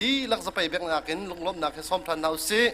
dihlak zapei bek nakin lunglawmhnak he sawm than hna usih.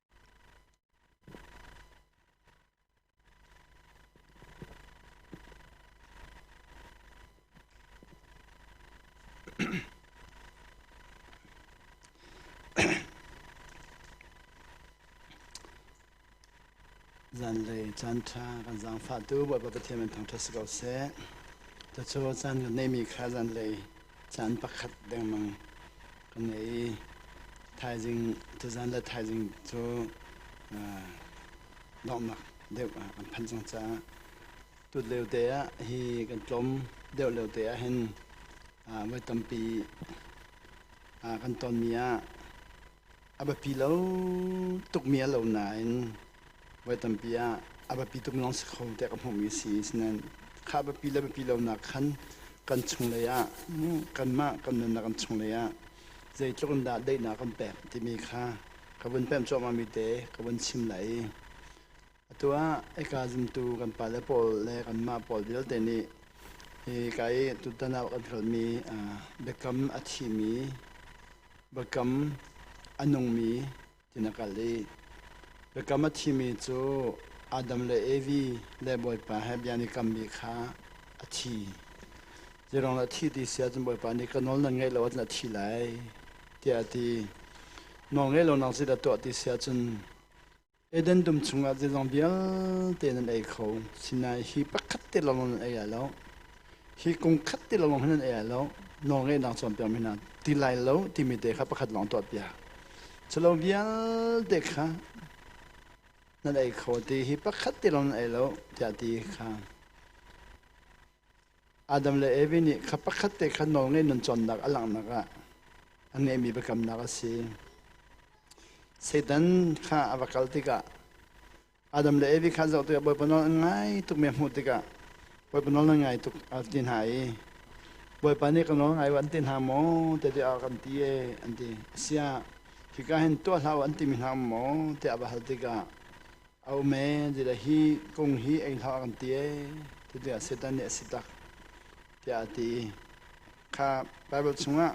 Zanlei caanṭha kan zaangfahtu Bawipa Pathian min thangṭhat si ko seh. Cucu caan kan ngeihmi kha zanlei caan pakhat dengmang ka ngei i thaizing tuzaan le thaizing cu donghnak deuh ah an phan cang caah tut lio te ah hi kan tlawm deuh lio te ah hin voi tampi kan tonmi ah A biapi lo tukmi a lo nain voi tampi ah a biapi tuk mi lawng si kho tiah ka hmuhmi a si. Sinain kha biapi le biapi lonak khan kan chunglei ah kanmah kan nunnak kan chunglei ah zeitluk in dah daihnak kan pek timi kha ka vun pemh cuahmahmi te ka vun chim lai i Atu ah ika zumtu kan pale pawl le kanmah pawl vialte nih hi ka i tutan ah kan hlawtmi biakam a thimi, biakam a nungmi ti na kalh i biakam a thimi cu Adam le Evi le Bawipa he bia an i kammi kha a thi. Hi rong a thi ti si ahcun Bawipa nih ka nawl na ngaih lo ahcun a thi lai tiah a ti. Nawl ngeih lonak zeidah tuah ti si ahcun Eden dum chungah zeizong vialte nan ei kho. Sinain hi pakhat te lawnglawng nan ei ai lo. Hi kum khat te lawnglawng hin nan ei ai lo. Nawlngeihnak cawnpiakmi hna ti lai lo timi te kha pakhat lawng tuahpiak. Culo vialte kha nan ei kho ti hi pakhat te lawng nan ei lo tiah ti kha Adam le Evi nih kha pakhat te kha nawlngaih nun cawnnak a langhnak ah a ngeihmi biakamnak a si. Satan kha a va kal tikah Adam le Evi kha zoh tikah Bawipa nawl an ngai tukmi a hmuh tikah Bawipa nawl nan ngai tuk a ti hna i Bawipa nih ka nawl ngai u an ti hna maw tiah a kan ti ee an ti. Asiah hika hin tuah hlah u an timi hna maw tiah a va hal tikah A um ee, ti le hi kung hi ei hlah a kan ti ee, ti le Satan nih a si tak, tiah a ti i kha Baibal chungah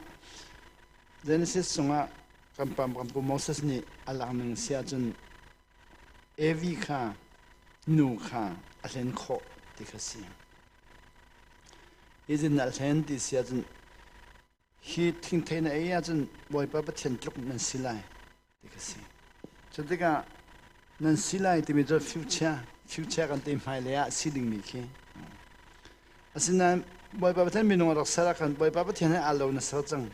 Genesis chungah kan pam kan pu Moses nih a lak ning si ahcun Evi kha nu kha a hlen khawh ti kha si. Hi zin a hlen ti si ahcun Hi thingthei na ei ahcun Bawipa Pathian tluk nan si lai ti ka si. Cu tikah nan si lai timi cu future future kan te hmai lei ah si dingmi khi asinain Bawipa Pathian minung a rak ser ahkhan Bawipa Pathian he aa lo na ser cang.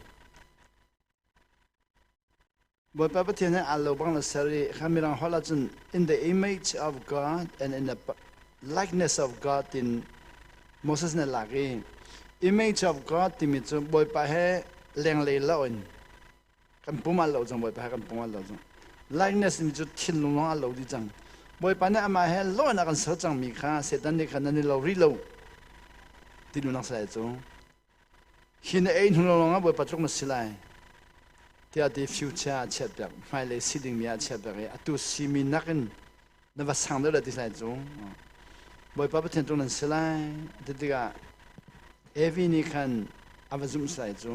Bawipa Pathian he aa lo bang na ser i kha mirang holh ah cun in the image of God and in the likeness of God tin Moses nih a lak i image of God timi cu Bawipa he lenglei lo in kan pum ah lo cang Bawipa he kan pum ah lo cang likeness timi cu thinlung lawng ah lo dih cang Bawipa nih amah he lo in a kan ser cangmi kha Satan nih khan nan i lo rih lo ti dunak salai cu Hi na ei hnu lawngah Bawipa tluk na si lai tiah ti future ah a chiat piak hmailei si dingmi ah a chiat piak i atu simi nakin na va sang deuh le ti hlai cu Bawipa Pathian tluk nan si lai ti tikah Evi nih khan a va zumh salai cu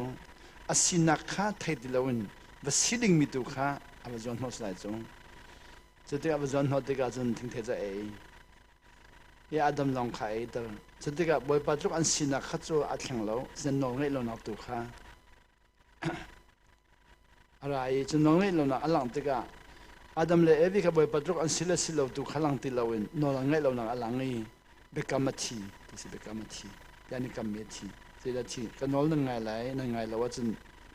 a sinak kha thei ti loin va si dingmi tu kha a va zuan hnawh salai cu cu tikah va zuan hnawh tikah cun thingthei cu a ei i Adam lawng kha a eidal. Cutikah Bawipa tluk an sinak kha cu a thleng lo, cun nawlngaih lonak tu kha a ra i cu nawlngaih lonak a langh tikah Adam le Evi kha Bawipa tluk an si le si lo tu kha lang ti loin nawl an ngaih lonak a lang i biakam a thi ti si biakam a thi. Yanikam mi a thi. Zeidah a thi? Ka nawl nan ngai lai, nan ngai lo ahcun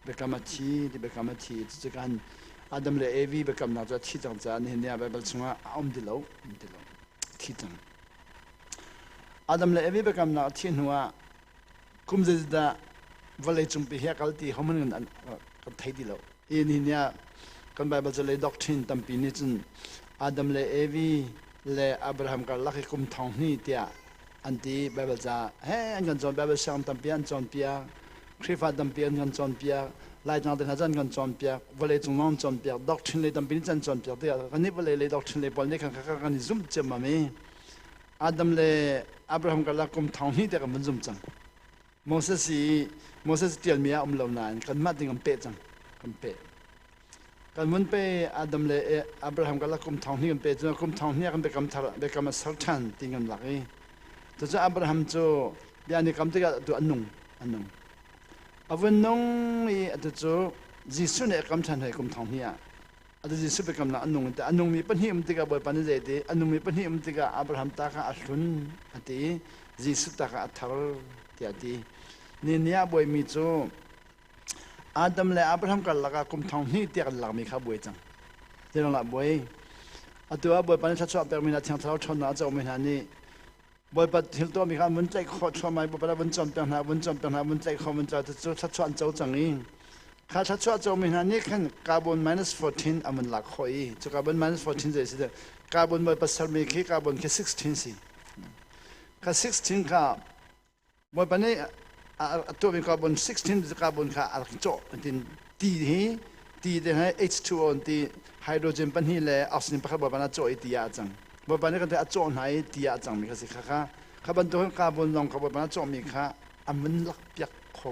Biakam a thi ti biakam a thi cucu kan Adam le Evi biakamnak cu a thi cang caah nihin ni ah Baibal chungah a um ti lo um ti lo thi cang. Adam le Evi biakamnak a thih hnu ah kum zeizat dah vawlei cungpi hi a kal ti homan kan kan thei ti lo. Hi nihin ni ah kan Baibal cu lei doctrine tampi nih cun Adam le Evi le Abraham karlak i kum thong hni tiah an ti Baibal ca he an kan cawn Baibal sianginn tampi an cawn piak Khrihfa tampi an kan cawnpiak, Laitlang te hna cu an kan cawnpiak, vawleicung zong an cawnpiak, doctrine lei tampi nih can cawnpiak tikah kan nih vawlei lei doctrine lei pawl nih khan kha kan i zumh ciammam i Adam le Abraham karlak kum thong hnih tiang kan vun zum cang. Moses i Moses tialmi ah a um lo nain kanmah ding kan peh cang, kan peh. Kan vun pe Adam le Abraham karlak kum thong hnih kan pe cu kum thong hnih ah kan biakam thar biakam a ser ṭhan ti kan lak i cucu Abraham cu bia ni kam tikah atu an nung an nung a vun nung i atu cu Jesuh nih a kam ṭhan hlei kum thong hnih ah atu Jesuh biakam nak an nung an ti a nungmi pahnih um tikah Bawipa nih zei ti a nungmi pahnih um tikah Abraham ta kha a hlun a ti i Jesuh ta kha a thar tiah a ti ni ni ah Bawi mi cu Adam le Abraham karlak ah kum thong hnih tiah kan lakmi kha buai cang. Zeiruangah buai? Atu ah Bawipa nih thluachuah pekmi hna thiang thlarau ṭhawnnak a comi hna nih Bawipa thil tuahmi kha vun tlaih khawh thluahmah i Bawipa le vun cawnpiak hna, vun cawnpiak hna, vun tlaih khawh, vun tlaih cu thluachuah an co cang i kha thluachuah comi hna nih khan carbon minus 14 an vun lak khawh i cu carbon minus 14 zei a si teh? Carbon Bawipa sermi khi carbon khi 16 si. Kha 16 kha Bawipa nih a tuahmi carbon 16 carbon kha a rak i cawh tiin ti hi ti te hi H2O ti hydrogen pahnih le oxygen pakhat Bawipa nih a cawh i ti ah a cang Bawipa nih kan a cawh hna i ti ah a cangmi kha si kha kha kha bantukin carbon zong kha Bawipa nih a cawhmi kha a mun lak piak kho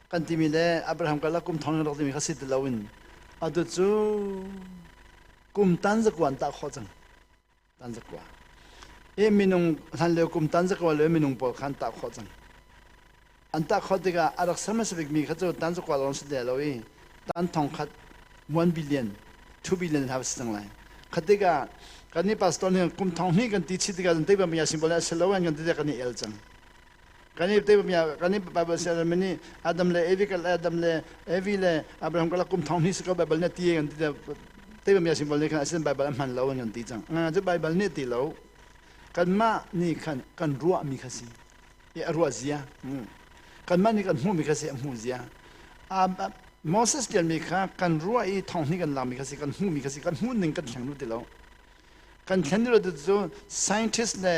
kan timi le Abraham karlak kum thong in rak timi kha si ti loin atu cu kum tan zakuan tah khawh cang tan zakua hi minung hlan leo kum tan zakua le minung pawl khan tah khawh cang an tah khawh tikah a rak ser hmasa bikmi kha cu tan zakua lawng si lo i tan thong khat 1 billion 2 billion hau si cang lai khatikah kan ni pastor nih kum thong hni kan ti chi tikah kan tei bang ya simbol a si lo an kan ti kan i el cang kan i te bia kan i bible se dan mani adam le evi kal adam le evi le abraham kala kum thong ni se ko bible ne ti kan ti te bia simple ne kan asin bible man lo an ti chang nga ju bible ne ti lo kan ma ni khan kan ruwa mi kha si e ruwa zia kan ma ni kan mu mi kha se mu zia moses tian mi kha kan ruwa i thong ni kan la mi kha si kan mu mi kha si kan mu ning kan hleng lu ti lo kan thlen dih lo cu scientist le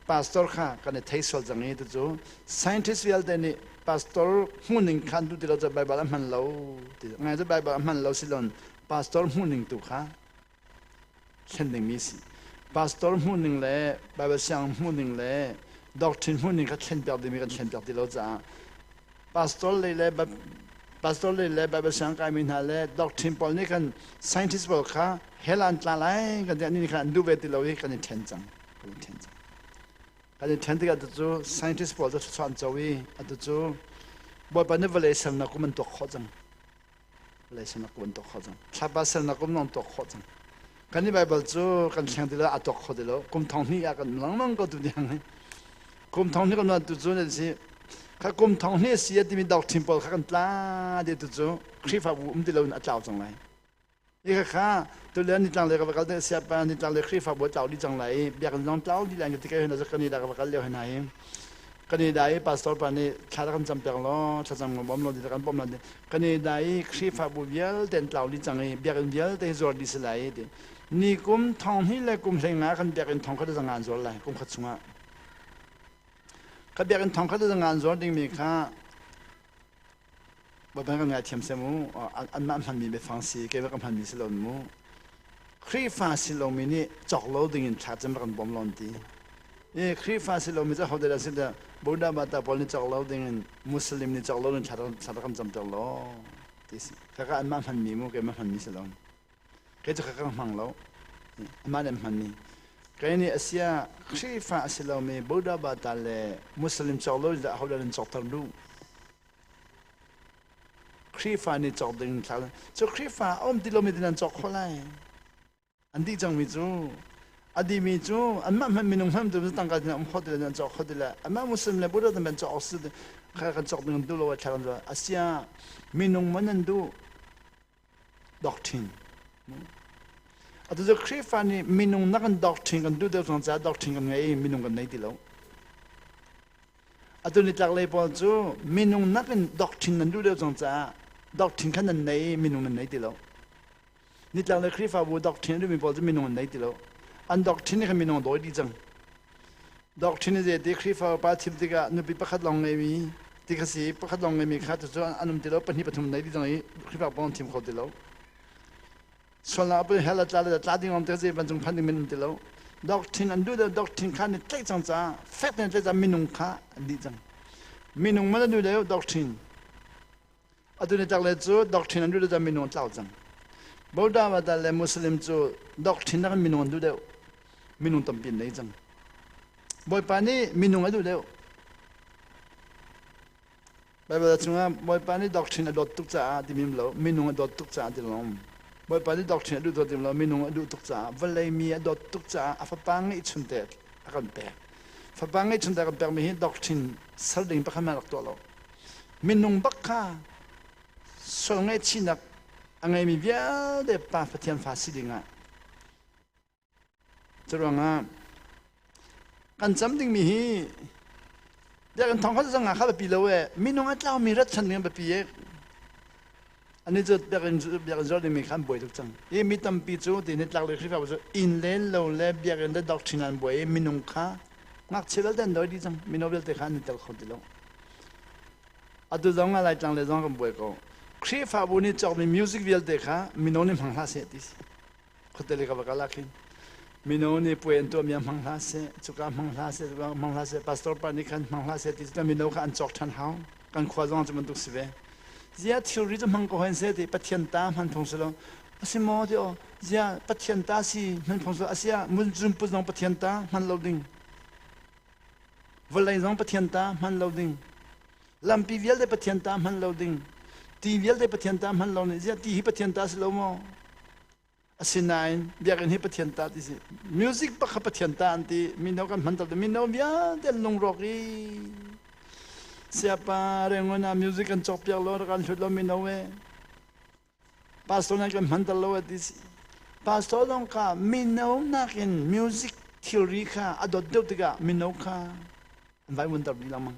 pastor kha kan i thei sual cang i cu scientist vialte nih pastor hmuhning kha an duh ti lo cu Baibal a hman lo ti ngai cu Baibal a hman lo si lon pastor hmuhning tu kha thlen dingmi si pastor hmuhning le Baibal siang hmuhning le doctrine hmuhning kha thlen piak dingmi kan thlen piak ti lo caah pastor lei le pastor lei le Bible siang kai mi hna le doctrine pawl nih kan scientist pawl kha hell an tla lai kan ti ni khan an duh ve ti lo i kan i then cang kan i then cang kan i then tikah cu scientist pawl cu thluachuah an co i atu cu bawipa nih vawlei ser nak kum an tuak khawh cang laisen na kun tuk kho cang thlapa sel na kum nong tok kho cang kan i bible cu kan thleng ti lo atok kho ti lo kum thong hni ah kan langlang ko tu niang kum thong hni kan man tu cu ne si kha kum thong hni si timi dok thin pawl kha kan tla de tu cu khrifa bu um ti lo in a tlau cang lai Ikhakha tulen nitlanglei ka va kal te siapa nitlanglei Khrihfa bawi tlau dih cang lai i biakinn lawng tlau dih lai ka tikei hona Canada ka va kal lio hena i Canada i pastor pa nih thla rak kan cam pek law thla cam kan bawm law rak kan bawm law Canada i Khrihfa bu vialte tlau dih cang i biakinn vialte zuar dih si lai ti ni kum thong hnih le kum hlei nga kan biakinn thong khat zangan zuar lai kum khat chungah ka biakinn thong khat zangan zuar dingmi kha Baibal kan ngaithiam sem u. Anmah hmanmi biafang si, kei va kan hmanmi si loin mu. Khrihfa si lomi nih cawk lo dingin thla cun va kan bawm lawn ti. I Khrihfa si lomi cu hodah dah si dah Buddha Bata pawl nih cawk lo dingin Muslim nih cawk loin thla rak kan camter law ti si. Kaka anmah hmanmi mu, keimah hmanmi si lo. kei cu ka ka hmang lo mah ne hmanmi kei nih a sia Khrihfa a si lomi Buddha bata le Muslim cawk lo dah hodah nan cawkter duh Khrihfa nih cawk ding thla cu Khrihfa a um ti lomi ti nan cawk kho lai an dih cangmi cu a dimi cu anmah hman minung hman tu tangka tin um kho ti le nan cawk kho ti le anmah muslim le buddha tan cawk si kha kan cawk ding duh lo a thla kan a sia minung man an duh doctrine. Atu cu Khrihfa nih minung nak in doctrine kan duh deuh cang caah doctrine kan ngei i minung kan ngei ti lo. Atu nitlaklei pawl cu minung nak in doctrine nan duh deuh cang caah doctrine khan nan nei i minung nan nei ti lo. Nitlaklei Khrihfabu doctrine a duhmi pawl cu minung an nei ti lo. An doctrine khan minung a dawi dih cang. Doctrine ze te Khrihfa upa chim tikah nupi pakhat lawng ngeimi ti kha si pakhat lawng ngeimi kha tu cu an um ti lo pahnih pathum nei ding i Khrihfa pawng an thim kho ti lo sualnak pun hel tla le tla ding om te zei vancung phan ding men um ti lo doctrine an duh le doctrine kha ni tlaih cang ca fek ten tlaih ca minung kha an dih cang minung man a duh le doctrine Atu ni tak le cu doctrine an duh deuh minung tlau cang. Buddha Vata le Muslim cu doctrine nak in minung an duh deuh. Minung tampi an nei cang. Bawipa nih minung a duh deuh. Baibal chungah Bawipa nih doctrine a dawt tuk caah ti mim lo, minung a dawt tuk caah ti lo. Bawipa nih doctrine a duh dawt lo, minung a duh tuk caah, vawlei mi a dawt tuk caah a fapa ngeihchun te a kan pek. Fapa ngeihchun te a kan pekmi hi doctrine sal ding pakhat man rak tuah lo. minung bak kha sual ngaihchihnak a ngeimi vialte pa Pathian fa si dingah curuangah kan cam dingmi hi biakinn thawng kha zangah kha biapi lo e minung a tlaumi rat chan ding a biapi e Ani cu biakinn biakinn zulh dingmi kha an buai tuk cang i mi tampi cutiin nitlaklei Khrihfabu cu inn len lo le biakinn le doctrine an buai i minung kha ngakchia vialte an dawi dih cang mino vialte kha an i tel kho ti lo atu zong ah laitlang le zong kan buai ko Khrihfabu nih cawkmi music vialte kha mino nih hmang hlah seh ti si khuate le ka va kala khin mino nih puai an tuah mi ah hmang hla seh cuka hmang hla seh cuka hmang hla seh pastor pa nih khan hmang hla seh ti cuka mino kha an cawk ṭhan hau kan khua zong cu bantuk si ve zia thilri cu hmang ko hen se ti pathian ta hman thong selo asi mo ti o zia pathian ta si hman thong selo asia mun zum pu zong pathian ta hman lo ding vawlei zong pathian ta hman lo ding lampi vialte Pathian ta hman lo ding ti vialte Pathian ta hman lo nih ziah ti hi Pathian ta si lo maw asinain biakinn hi Pathian ta ti si music pakha Pathian ta an ti mino kan hman to mino vialte an lungrawk i siapa rengon ah music an cawk piak lo rak an hlut lo mino e pastor nan kan hmanter lo a ti si pastor dong ka mino nakin music thilri kha a dot deuh tikah mino kha an vaivun ter dih lengmang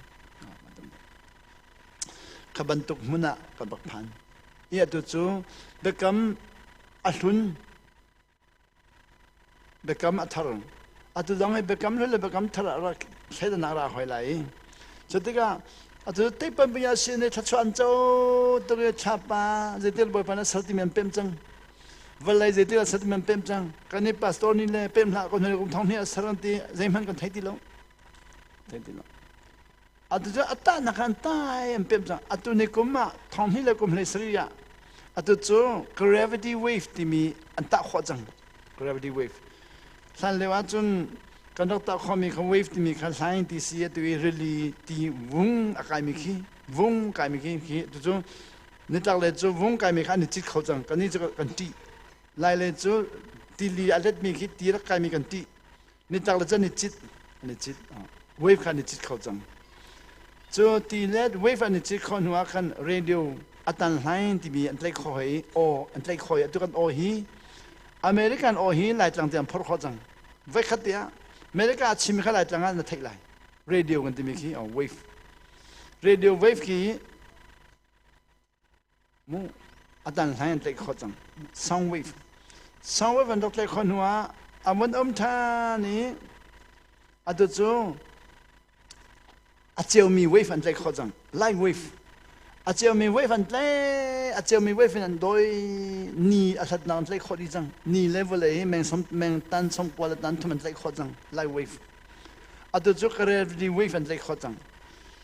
ka bantuk hmun ah ka bak phan i atu cu biakam a hlun biakam a thar atu dang i biakam le biakam thar ah rak thleidanak ra hoi lai cu tikah atu teipan paya sin i thlachuan co tuk i thlapa zeitir bawipa na ser ti men pem cang vallei zeitir a ser ti men pem cang kan i pastor ni le pem hlah ko hnuai kum thong hnih a ser an ti zeihmanh kan thei ti lo thei ti lo Atucu a tahnak kha an tai an pemh cang. Atu ni kum ah thawnghni le kum hlei sarih ah atu cu gravity wave timi an tah khawh cang. Gravity wave. Hlan lio ahcun kan rak tah khawhmi kha wave timi kha hlaing ti si atu i rili ti vung a kaimi khi vung kaimi khi khi tucu nitlaklei cu vung kaimi kha an i cit kho cang. Kannih cu kan ṭih. Lailei cu tili a letmi khi ti rak kaimi kan ṭih. Nitak le cun ni cit ni cit wave kha ni cit kho cang cu ti le wave an ni cit khawh hnu ah khan radio atan hlain timi an tlaih khawh hi aw an tlaih khawh hi atu kan aw hi American aw hi laitlang te an phor khawh cang voi khat te ah America a chim kha laitlang ah na theih lai radio kan timi khi wave radio wave khi atan hlai an tlaih khawh cang soundwave soundwave an rak tlaih khawh hnu ah a mun um ṭhan i atu cu a ceumi wave an tlaih khawh cang live wave a ceumi wave an tlai a ceumi wave in an doi ni a hlatnak an tlaih khawh dih cang ni le vawlei hi meng som meng tan som kual a tan thum an tlaih khawh cang live wave atu cu karel wave an tlaih khawh cang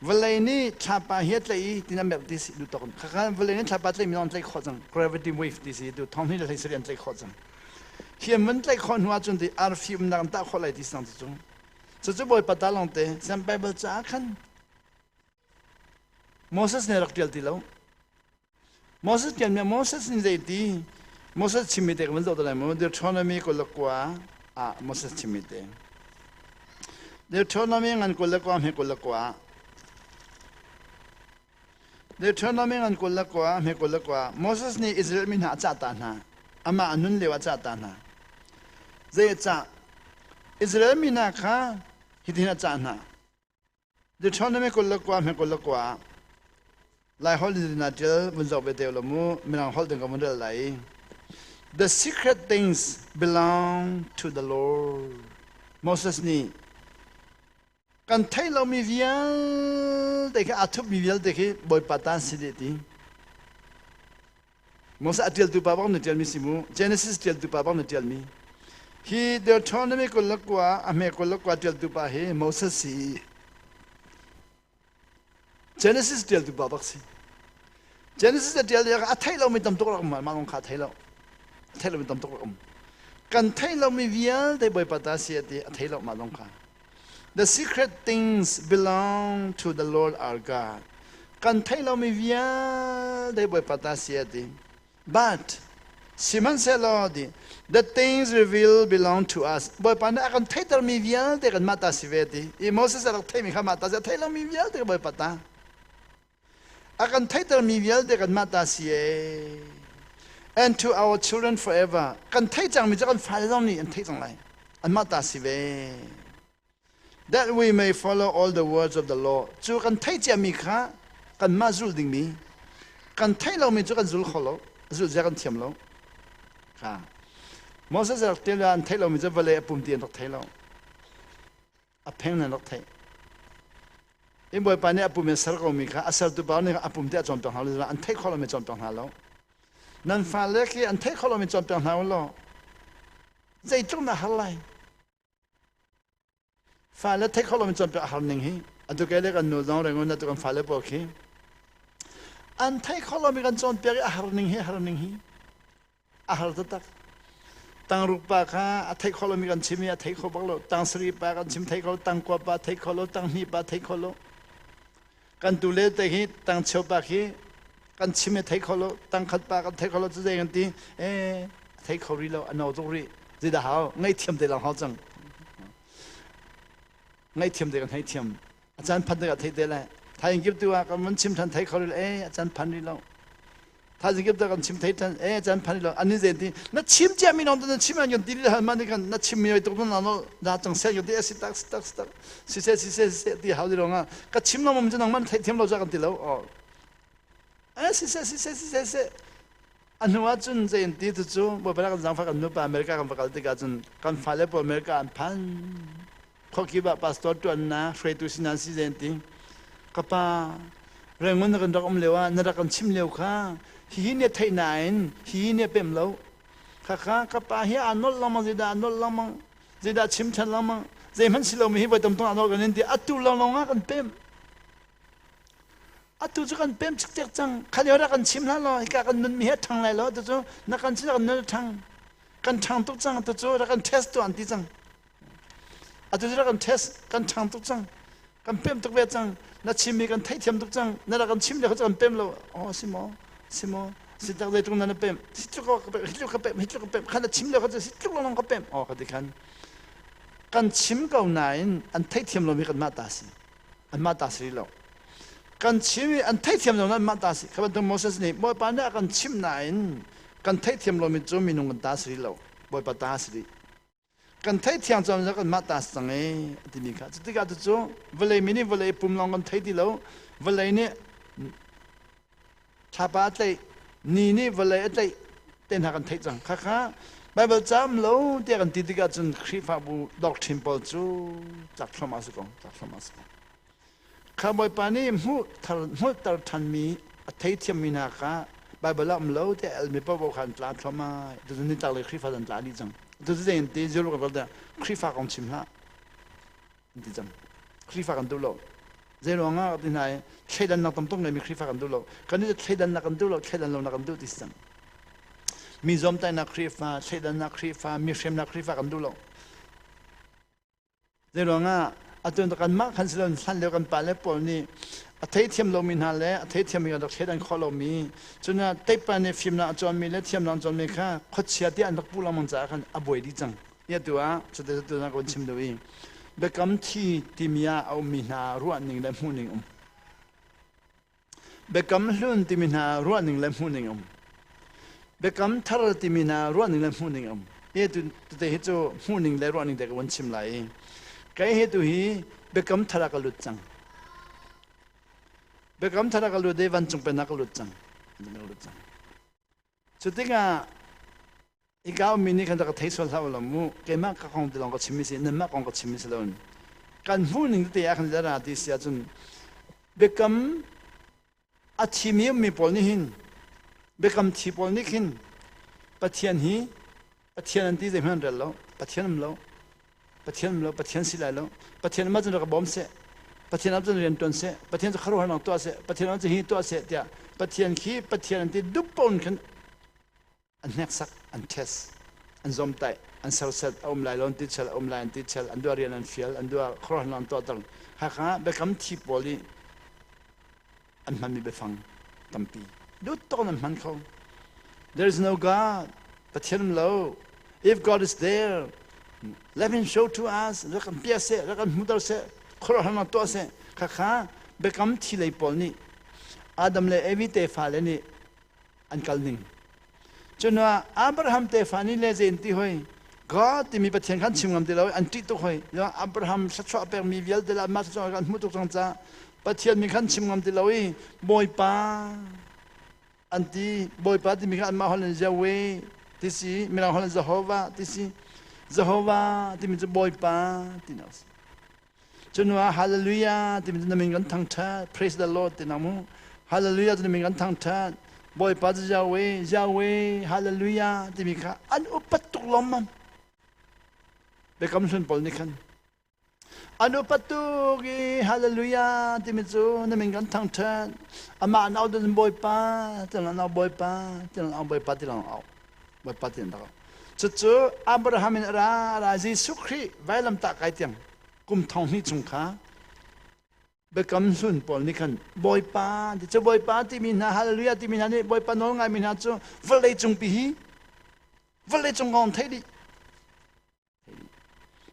Vawlei nih thlapa hi a tlaih i tin an merh ti si duh tok. Khakha vawlei nih thlapa tlaih mi zong an tlaih khawh cang. Gravity wave ti si duh thong hi le hlei sari an tlaih khawh cang. Hi an vun tlaih khawh hnu ahcun ti arfi umnak an tah khawh lai ti sang cu cung. Cucu Bawipa ta lawng te Sian Bible caah khan Moses nih a rak ṭial ti lo. Moses tian mi Moses in zei ti Moses chimi te kan zoh lai Deuteronomy kul le kua ah Moses chimi te Deuteronomy ngan kul le kua hme kul le kua Deuteronomy ngan kul le kua hme kul le kua Moses nih Israel mi hna a cah ta hna amah nun lio ah cah ta hna zei cah Israel mi hna kha hitin a cah hna Deuteronomy kul le kua, hme kul le kua ah Laiholh in na ṭial vun zoh ve te law mu, Mirang holh ding ka vun rel lai. The secret things belong to the Lord. Moses nih kan theih lomi vialte khi aa thup mi vialte khi Bawipa ta si deh ti. Moses a ṭialtu pa bang na ṭialmi si mu, Genesis ṭialtu pa bang na ṭialmi. Hi Deuteronomy kul le kua, a hme kul le kua ṭialtu pa hi Moses si i Genesis ṭialtu pa bak si. Genesis a ṭial lio a theih lomi tam tuk rak um, mah kong kha a thei lo. A theih lomi tam tuk rak um. Kan theih lomi vialte Bawipa ta si a ti, a thei lo mah kong kha. The secret things belong to the Lord our God. Kan thei lomi vialte Bawipa ta si a ti. But, sihmanhsehlaw di, the things revealed belong to us. Bawipa nih a kan theitermi vialte kanmah ta si ve ti. I Moses a rak theimi kha mah ta si a thei lomi vialte ka Bawipa ta. A kan theihtermi vialte kanmah ta si ee. And to our children forever. Kan theih cangmi cu kan fale zong nih an theih cang lai. Anmah ta si ve. That we may follow all the words of the law. Cu kan theih ciami kha kanmah zulh dingmi. Kan theih lomi cu kan zul kho lo. Zulh zia kan thiam lo. Kha. Moses rak til an theih lomi cu vale a pum ti an rak thei lo. a pheng nan rak theih in bawipa nih a pum in ser ko mi kha a sertu pa nih a pum tiah cawn peng hna lo an theih kho lo mi cawn peng hna lo nan fale khi an theih kho lo mi cawn peng hna law zeitluk na har lai fale theih kho lo mi cawn peng a har ning hi atu ke le kan nu zong rengun atu kan fale pawl khi an theih kho lo mi kan cawn piak i a har ning hi har ning hi a har taktak tangruk pa kha a theih kho lomi kan chim i a theih kho bak lo tang sari pa kan chim thei kho tangkua pa thei kho lo tanghni pa thei kho lo kan tu le te hi tangcheu pa khi kan chim e thei kho lo tangkhat pa kan thei kho lo cu zei kan ti e thei kho rih lo a no tuk rih zida hau ngaithiam te lang hau cang ngaithiam te kan hei thiam a can phan ding ah thei te le thaing kip tu ah kan man chim than thai kho ril e a can phan rih lo thaing kip ta kan chim thai than e a can phan rih lo ani ze ti na chim chia mi nom na chim an yon ti li hal man kan na chim mi oi tuk na no da chang se yon ti e si tak si tak si tak si se si se si se ti hau di ronga ka chim nom um nang man thai thiam lo ja kan ti lo o e si se si se si se se A hnu ah cun zeiin ti cucu Bawipa kan zangfah kan nupa America kan va kal tikah cun kan fale pawl America an phan. Khuakip ah pastor ṭuannak hruaitu si nan si zeiin ti. Ka pa, rengun na kan rak um lio ah na rak kan chim lio kha hihi nih theih nain hihi nih pem lo. Khakha ka pa hi aa nolh lengmang zeidah aa nolh lengmang zeidah chim ṭhan lengmang zeihmanh si lomi hi voi tam tung aa nolh kan in ti atu lawnglawng ah kan pem. atu cu kan pem cikcek cang khalio rak kan chim hlah law hika kan nunmi hi a ṭhang lai lo tu cu na kan sin kan nun a ṭhang kan ṭhang tuk cang tu cu rak kan test tuah an ti cang atu cu rak kan test kan ṭhang tuk cang kan pem tuk ve cang na chim mi kan theihthiam tuk cang na rak kan chim lio cu kan pem lo oh si maw si maw si tak zeitluk na na pem si tluk hitluk ka pem hitluk ka pem khan na chim lio kha cu si tluk long ka pem oh ka ti khan kan chim ko nain an theithiam lomi kanmah ta si anmah ta si rih lo kan chim i an theihthiam lo anmah ta si kha bantuk Moses nih Bawipa nih a kan chimh nain kan theihthiam lomi cu minung kan ta si rih lo Bawipa ta si rih kan theithiang cawm cu kanmah ta si cang i a timi kha cutikah cucu vawlei mi nih vawlei pum lawng kan thei ti lo vawlei nih Thlapa a tleih, ni nih vawlei a tleih te hna kan theih cang. Khakha Baibal caam lo tiah kan ti tikah cun Khrihfabu doctrine pawl cu cak thluamah a si ko, cak thluamah a si ko. Kha Bawipa nih hmuh thar hmuhter ṭhanmi a theithiammi hna kha Baibal ah um lo tiah elmi paohpaoh kha an tla thluamah. Tucun nitlak lei Khrihfa an tla dih cang. Tucun zeitin ti Jerusalem ral tiah Khrihfa kong chim hlah. an ti cang Khrihfa kan duh lo zeiruangah ka ti hna i thleidannak tamtuk ngeimi Khrihfa kan duh lo kan i thleidannak kan duh lo thleidan lonak kan duh ti si cang mi zuamtainak Khrihfa thleidannak Khrihfa mi hremnak Khrihfa kan duh lo zeiruangah atu kanmah kan si loin hlan lio kan pa le pawl nih a theithiam lomi hna le a theithiammi kan rak thleidan khawh lomi cunaah teipa nih fimnak a cawnmi le thiamnak a cawnmi kha khuachia tiah an rak puh lengmang caah khan a buai dih cang Nia tu ah cute cute na kan chim deuh i biakam thi timi ah a ummi hna ruahning le hmuhning um. Biakam hlun timi hna ruahning le hmuhning um. Biakam thar timi hna ruahning le hmuhning um. He tu te hi cu hmuhning le ruahning te ka van chim lai i kai he tu hi biakam thar ah ka lut cang. Biakam thar ah ka lut i vancung pen ah ka lut cang. Ka lut cang. Cutikah i kaumi nih khan rak ka thei sual hlah ulaw mu keimah ka kong ti lawng ka chim i si nanmah kong ka chim i si loin kan hmuhning tete ah khan ra ti si ahcun biakam a thimi ummi pawl nih hin biakam thi pawl nih khin Pathian hi Pathian an ti zeihmanh an rel lo. Pathian um lo. Pathian um lo. Pathian si lai lo. Pathian umah cun rak bawm seh. Pathian ap cun rian tuan seh. Pathian cu kharuahnak tuah seh. Pathian ap cu hi tuah seh tiah Pathian khi Pathian an ti duppon khin an hneksak, an test, an zomtaih, an serset a um lai lo an ti chel, a um lai an ti chel, an dua rian an fial, an dua khuaruahnak an tuahter. Hakha ah biakam thi pawl i an hmanmi biafang tampi duttawk in an hman kho. There is no God, Pathian um lo. If God is there, let him show to us. Rak kan piah seh, rak kan hmuter seh, khuaruahharnak tuah seh. Khakha biakam thi lei pawl nih Adam le Evi tefa le nih an kal ning. Cunuah Abraham tefa ni le zen ti hoi God timi Pathian khan chim ngam ti lo an ṭih tuk hoi. Abraham thluachuah pekmi vialte le anmah thluachuah kan hmuh tuk cang ca Pathian min khan chim ngam ti lo i Bawipa an ti. Bawipa timi kha anmah holh in Yahweh ti si, mirang holh in Jehovah ti si. Jehovah timi cu Bawipa ti na si. Cunuah hallelujah timi na min kan thang ṭhat praise the lord ti na mu hallelujah timi min kan thang ṭhat bawipa cu Yahweh Yahweh hallelujah timi kha an upat tuk lomman biakam hlun pawl nih khan an upat tuk i hallelujah timi cu na min kan thang ṭhat amah an au dun bawipa tilang an au bawipa tilang au bawipa tilang au Bawipa ti an dak. Cucu Abraham in a ra ra Jesuh Khrih vailam tah kai tiang kum thong hnih chung kha biakam hlun pawl nih khan Bawipa ti cu Bawipa timi hna hallelujah timi hna nih Bawipa nawl ngaimi hna cu vawlei cung pi hi vawlei cung kong theih dih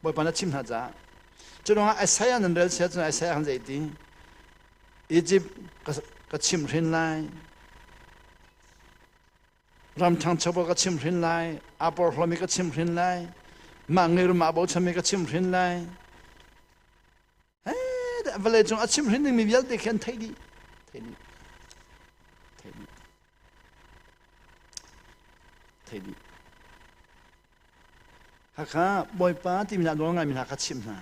Bawipa na chim hna caah cu ruangah Isaiah nan rel sia cun Isaiah khan zei ti Egypt ka chimh hrin lai ram ṭhangcho ka chimh hrin lai a porhlawmi ka chimh hrin lai mah ngirum aa bochanmi ka chimh hrin lai vale cung a chim hrin dingmi vialte khi an theih dih theih dih theih dih theih dih hakha bawipa timi na nawl ngaimi hna kha chim hna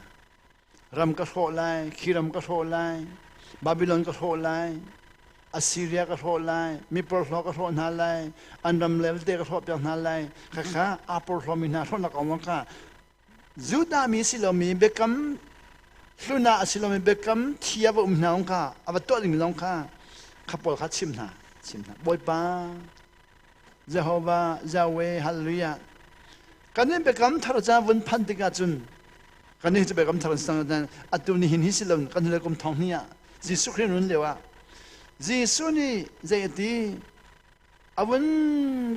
ram ka hrawh lai khiram ka hrawh lai babylon ka hrawh lai Assyria ka hrawh lai miporhlaw ka hrawh hna lai an ram le vilte ka hrawh piak hna lai khakha apor hlawmi hna hrawhnak awang ka Judah mi a si lomi biakam hlun ah a si lomi biakam thi ah va um hna u kha a va tuah dingmi lawng kha kha pawl kha chim hna chim hna Bawipa Jehovah Yahweh hallelujah kan in biakam thar ca vun phan tikah cun kan nih cu biakam thar an sang atu ni hin hi si loin kan hule kum thong ni ah Jesuh Khrih run lio ah Jesuh nih zei a ti a vun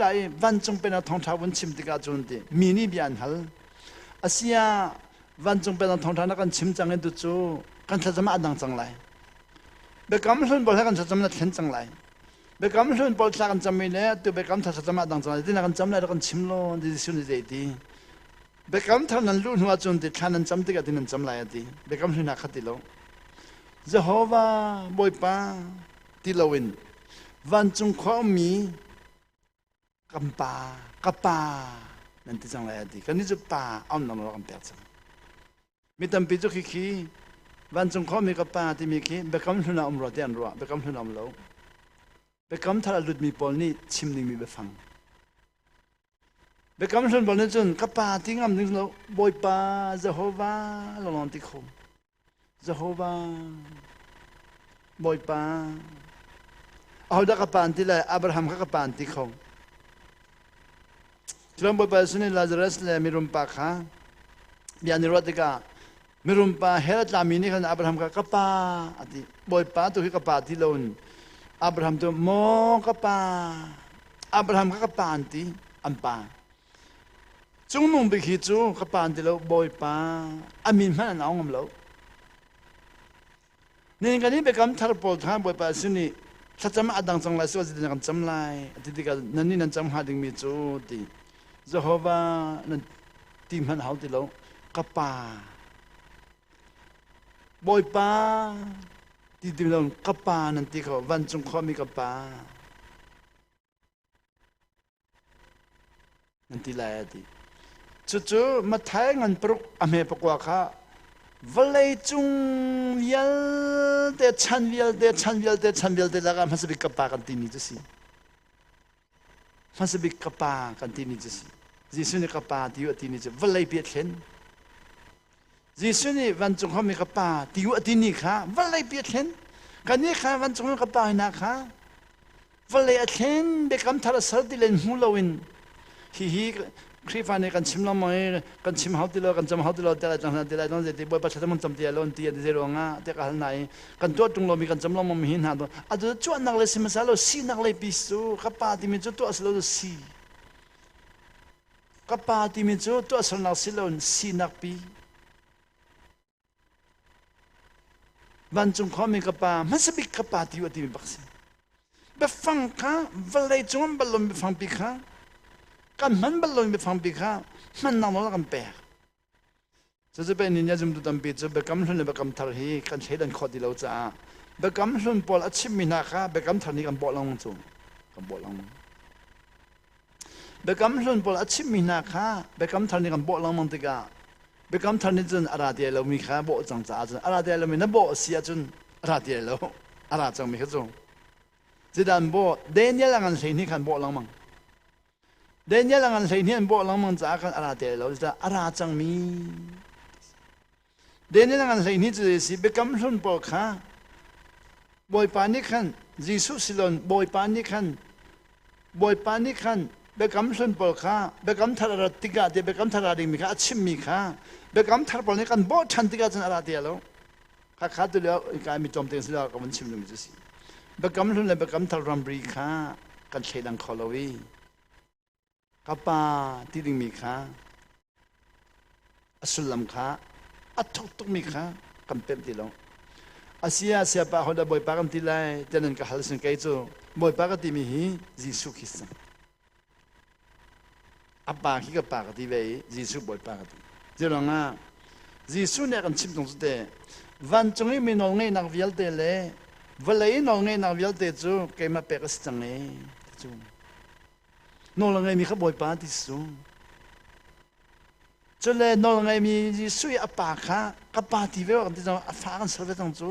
la i vancung pen a thongṭha vun chim tikah cun ti mi nih bia an hal asia vancung pen a thongṭha na kan chim cang i tu cu kan thlacam ah a dang cang lai biakam hlun pawl he kan thlacam na thlen cang lai biakam hlun pawl thla kan cam i le tu biakam thar thlacam ah dang cang lai ti na kan cam lai rak kan chim law ti Jesuh nih zei ti biakam thar nan luh hnu ah cun ti thla nan cam tikah ti nan cam lai a ti biakam hlun ha khat ti lo Jehovah Bawipa ti loin vancung khua ummi kan pa ka pa nan ti cang lai a ti kannih cu pa aumnak nawl kan pek cang mi tampi cu khi khi vancung khua mi ka pa timi khi biakam hlun ah um rua tiah an ruah biakam hlun ah um lo biakam thar a lutmi pawl nih chim dingmi biafang Biakam Hlun bol nih cun ka pa ti ngam ding lo Bawipa Jehovah ka lawm ti kho. Jehovah Bawipa ahodah ka pan ti le Abraham kha ka pan ti kho. Cuang Bawipa Jesuh nih Lazarus le mirum pa kha bia ni ruah tikah Mirum pa hell tlami nih khan Abraham kha ka pa a ti. Bawipa tu hi ka pa ti loin Abraham tu maw ka pa Abraham kha ka pa an ti an pa Cungmung bik hi cu ka pa an ti lo Bawipa a mi hmanh an au ngam lo Nihin kan i biakam thar pawl kha Bawipa sin i thlacam a dang cang lai su zit na kan cam lai a ti tikah nan nih nan cam hnga dingmi cu ti Jehovah nan ti hmanh hau ti lo ka pa Bawipa ti ti lo ka pa nan ti kho vancung khawmi ka pa Cucu Matthai ngan paruk a hme pakua kha vawleicung vialte chan vialte chan vialte chan vialte lakah hmasa bik ka pa kan timi cu si. Hmasa bik ka pa kan timi cu si. Jesuh nih ka pa ti a timi cu vawlei bia thlen. Jesuh nih vancung ham i ka pa ti u a tini kha vawleipi a thlen. Kannih kha vancung i ka pa hna kha vawlei a thlen biakam thar a sal ti len hmu loin hihi Khrihfa nih kan chim lo maw i kan chim hau ti lo kan cam hau ti lo te lai cang hna ti lai don zeiti bawipa thlathem kan cam ti lai lo ti a ti ruangah te ka hal hna i kan tuah tung lomi kan cam lo maw hi hna to a tu cuahnak le sihmasa lo sinak lei pis cu ka pa timi cu tuah si lo cu si Ka pa timi cu tuahsernak si loin sinak pi. Vancung khuami ka pa hmasa bik ka pa ti timi bak si. Biafang kha vawlei cungah balon biafang pi kha kan hman balon biafang pi kha hmannak nawl kan pek. Cacipeh ni nih zumtu tampi cu biakam hlun le biakam thar hi kan thleidan khawh ti lo caah biakam hlun pawl a chimhmi hna kha biakam thar nih kan bawh lengmang cu kan bawh lengmang. Biakam hlun pawl a chimhmi hna kha biakam thar nih kan bawh lengmang tikah biakam thar nih cun a ra ti lomi kha bawh cang caah cun a ra ti lomi na bawh a si ahcun a ra ti lo a ra cangmi kha cu. Zidan bawh Daniel a ngan hlei nih khan bawh lengmang. Daniel a ngan hleihnih an bawh lengmang caah kan a ra te lo zeicah a ra cangmi Daniel a ngan hleihnih cu si biakam hlun pawl kha Bawipa nih khan Jesuh silon Bawipa nih khan Bawipa nih khan biakam hlun pawl kha biakam thar a rat tikah ti biakam thar a dingmi kha a chimmi kha biakam thar pawl nih kan bawh ṭhan tikah cun a ra ti lo Khakha tu leo ka mi tom te sila ka van chim lumi chu si. Bakam hlun le bakam thar ramri kha kan thlei dang kho lo i ka pa ti ding mi kha a sullam kha a thuk tuk mi kha kan pem ti lo. Asia sia pa hola bawipa kan ti lai tianan ka hal sin kei cu bawipa ka ti mi hi Jesuh Christ A pa khi ka pa ka ti ve i Jesuh Bawipa ka ti. Culangah Jesuh nih a kan chimh tung cu te, vancung i mi nawlngeihnak vialte le vawlei i nawlngeihnak vialte cu keimah pek a si cang e, ti cu. Nawl a ngeimi kha Bawipa ti si cu. Cule nawl a ngeimi Jesuh i a pa kha ka pa ti ve kan ti cang, a fa kan ser ve cang cu.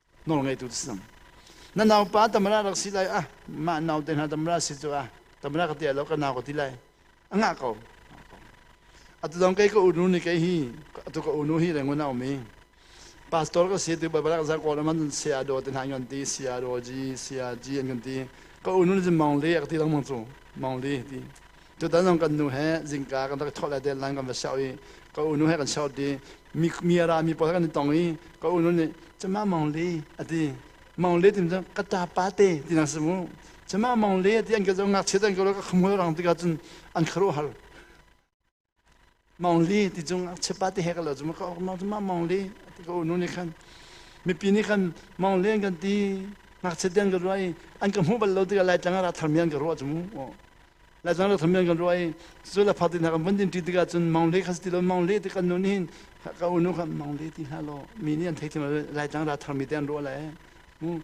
nawlngeitu si cang na naupa tamra rak si lai ah mah nau te hna tamra si cu ah tamra ka tia lo ka nau ka ti lai a ngah ko atu dong kei ka unu ni kei hi atu ka unu hi rengun aum i pastor ka si tu barak za ko man sia do te hna ngon ti sia do ji sia ji an ngon ti ka unu ni mong le ak ti lang mong chu mong le ti Tutan zong kan nu he zingka kan rak thawh le deadline kan va seoh i ka unu he kan seoh ti mi mi ara mi pawl he kan i tong i ka unu nih cama Mang Le a ti Mang Le tin cun ka ta pa te ti nak si mu cama Mang Le ti an ka zo ngakchiat an ka lo ka kham hoi rang tikah cun an kharuahhar Mong Li ti cung cheppa ti he ka lo zuma ka ok mong zuma Mong Li ti ka unu ni khan mipi ni khan Mong Li an kan ti ngakchiat den ka ruai an ka hmu bal lo ti ka lai tlang ra thar mian ka ruwa zumu lai tlang ra thar mian ka ruai cu la phati na kan vun din ti ti ka cun Mong Li kha ti lo Mong Li ti kan nu ni hin ka unu khan Mong Li ti hna lo mi ni an thei thim lai tlang ra thar mi te an ruwa lai mu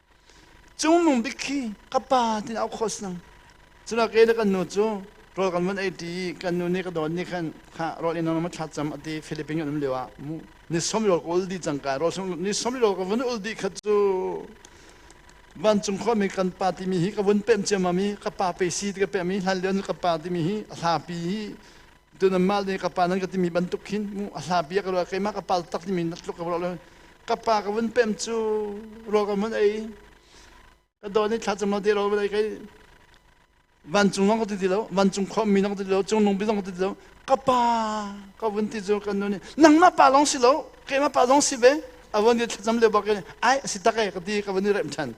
Cungmung bik khi ka pa tin auh khawh snang. Cuna ke le kan nu cu rawl kan van ei ṭi i kan nu nih ka dawt nih khan kha rawl in nam thla cam ati Philippine kan um lio ah mu ni som rawl ka ul dih cang ka rawl som ni som rawl ka van ul dih khat cu vancung khuami kan pa timi hi ka vun pemh ciammam i ka pa pe si ti ka pemh i hlan lio ka pa timi hi a hlapi hi Cun anmah le ka pa nan ka timi bantuk khin mu a hla bia ka ruah keimah ka pal tak timi natluk ka ruah lo ka pa ka vun pem cu rawl ka mun ei ka don i thla cung lo te ro vei kai vancung zong ka ti ti lo vancung khawmmi zong ka ti lo cungnung bi zong ka ti ti lo ka pa ka vun ti cu kan nu nih nangmah pa lawng si lo keimah pa lawng si ve a vun ti thlacam le bok ai asi tak e ka ti ka vun i rem than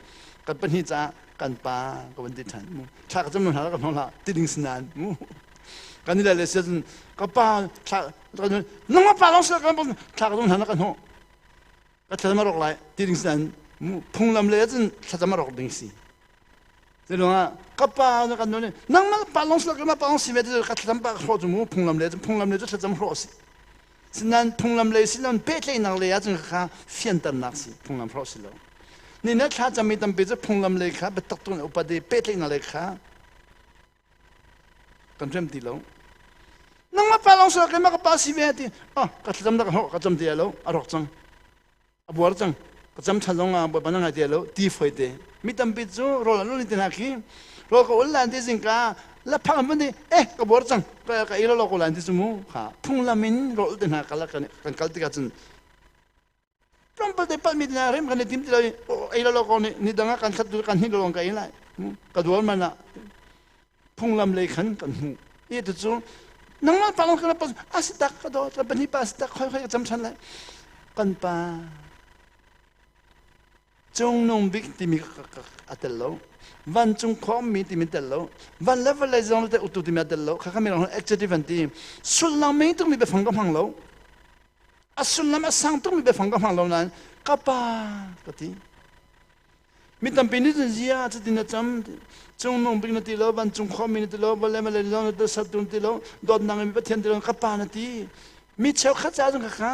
kan pahnih caah kan pa ka vun ti than mu thla ka cam hna ka hno hla tiding sinan mu kan i le le sian ka pa thla nang pa long sel kan thla ka hna na ka hno ka thla ma rok lai ti ding sin phunglam le cun thla ma rok ding si tilungah ka pa na kan none nang ma pa long sel ka ma pa long si ve ka thlam pa hro chu mu phunglam le phunglam le thla cham hro si sinan phunglam le sinan pe tle nang le ya chung kha fian tan nak si phunglam hro si lo ni na thla cham mi tampi chu phunglam le kha betak tun upade pe tle nang le kha kan rem ti lo nangmah pa long sua keimah ka pa si ve ti ah ka thlacam da ka hnok ka cam te lo a rawk cang a buar cang ka cam than long ah bawi ban ngai te lo ti foi te mi tampi cu rol an ulin tin ha khi rol ka ul lan ti zingka la phang mun di eh ka buar cang ka ka i lo lo ko lan ti su mu kha phunglam in rol te hna kala kan kan kal tika cun tlawmpal te pat mit na rem kan tim ti lai ei lo ko ni ni dang kan thlat kan hin lo ka ei lai ka dual man ah phunglam lei khan kan hu i tu chu nangmah pa kan pas asitak ka do ka pani pa asitak khoi khoi ka cham than lai kan pa Cungnung bik timi a tel lo. Vancung khawmmi timi tel lo. Van le vawlei zong te utu timi a tel lo. Kha kami rang adjective an ti. Sullam meng tukmi biafang ka hmang lo. A sullam a sang tukmi biafang ka hmang lo nain ka pa ka ti. Mi tampi nih cun zia cutin na cam. Cungnung bik na ti lo, vancung khawmi na ti lo, vawlei vawlei zong na ti lo, sattu na ti lo, dawtnak mi Pathian ti lo, ka pa na ti. Mi cheukhat ca cun ka kha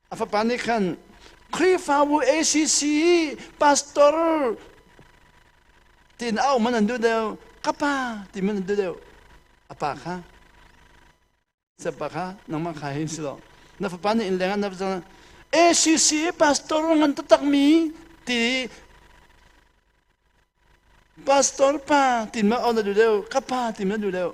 A fapa nih khan Khrihfabu ACC pastor tiin a um an an duh deuh ka pa ti an duh deuh a pa kha pa kha nangmah kha hin si lo na fapa nih in leng an ACC pastor ngan taktak mi ti pastor pa ti ma on a duh deuh ka pa ti ma duh deuh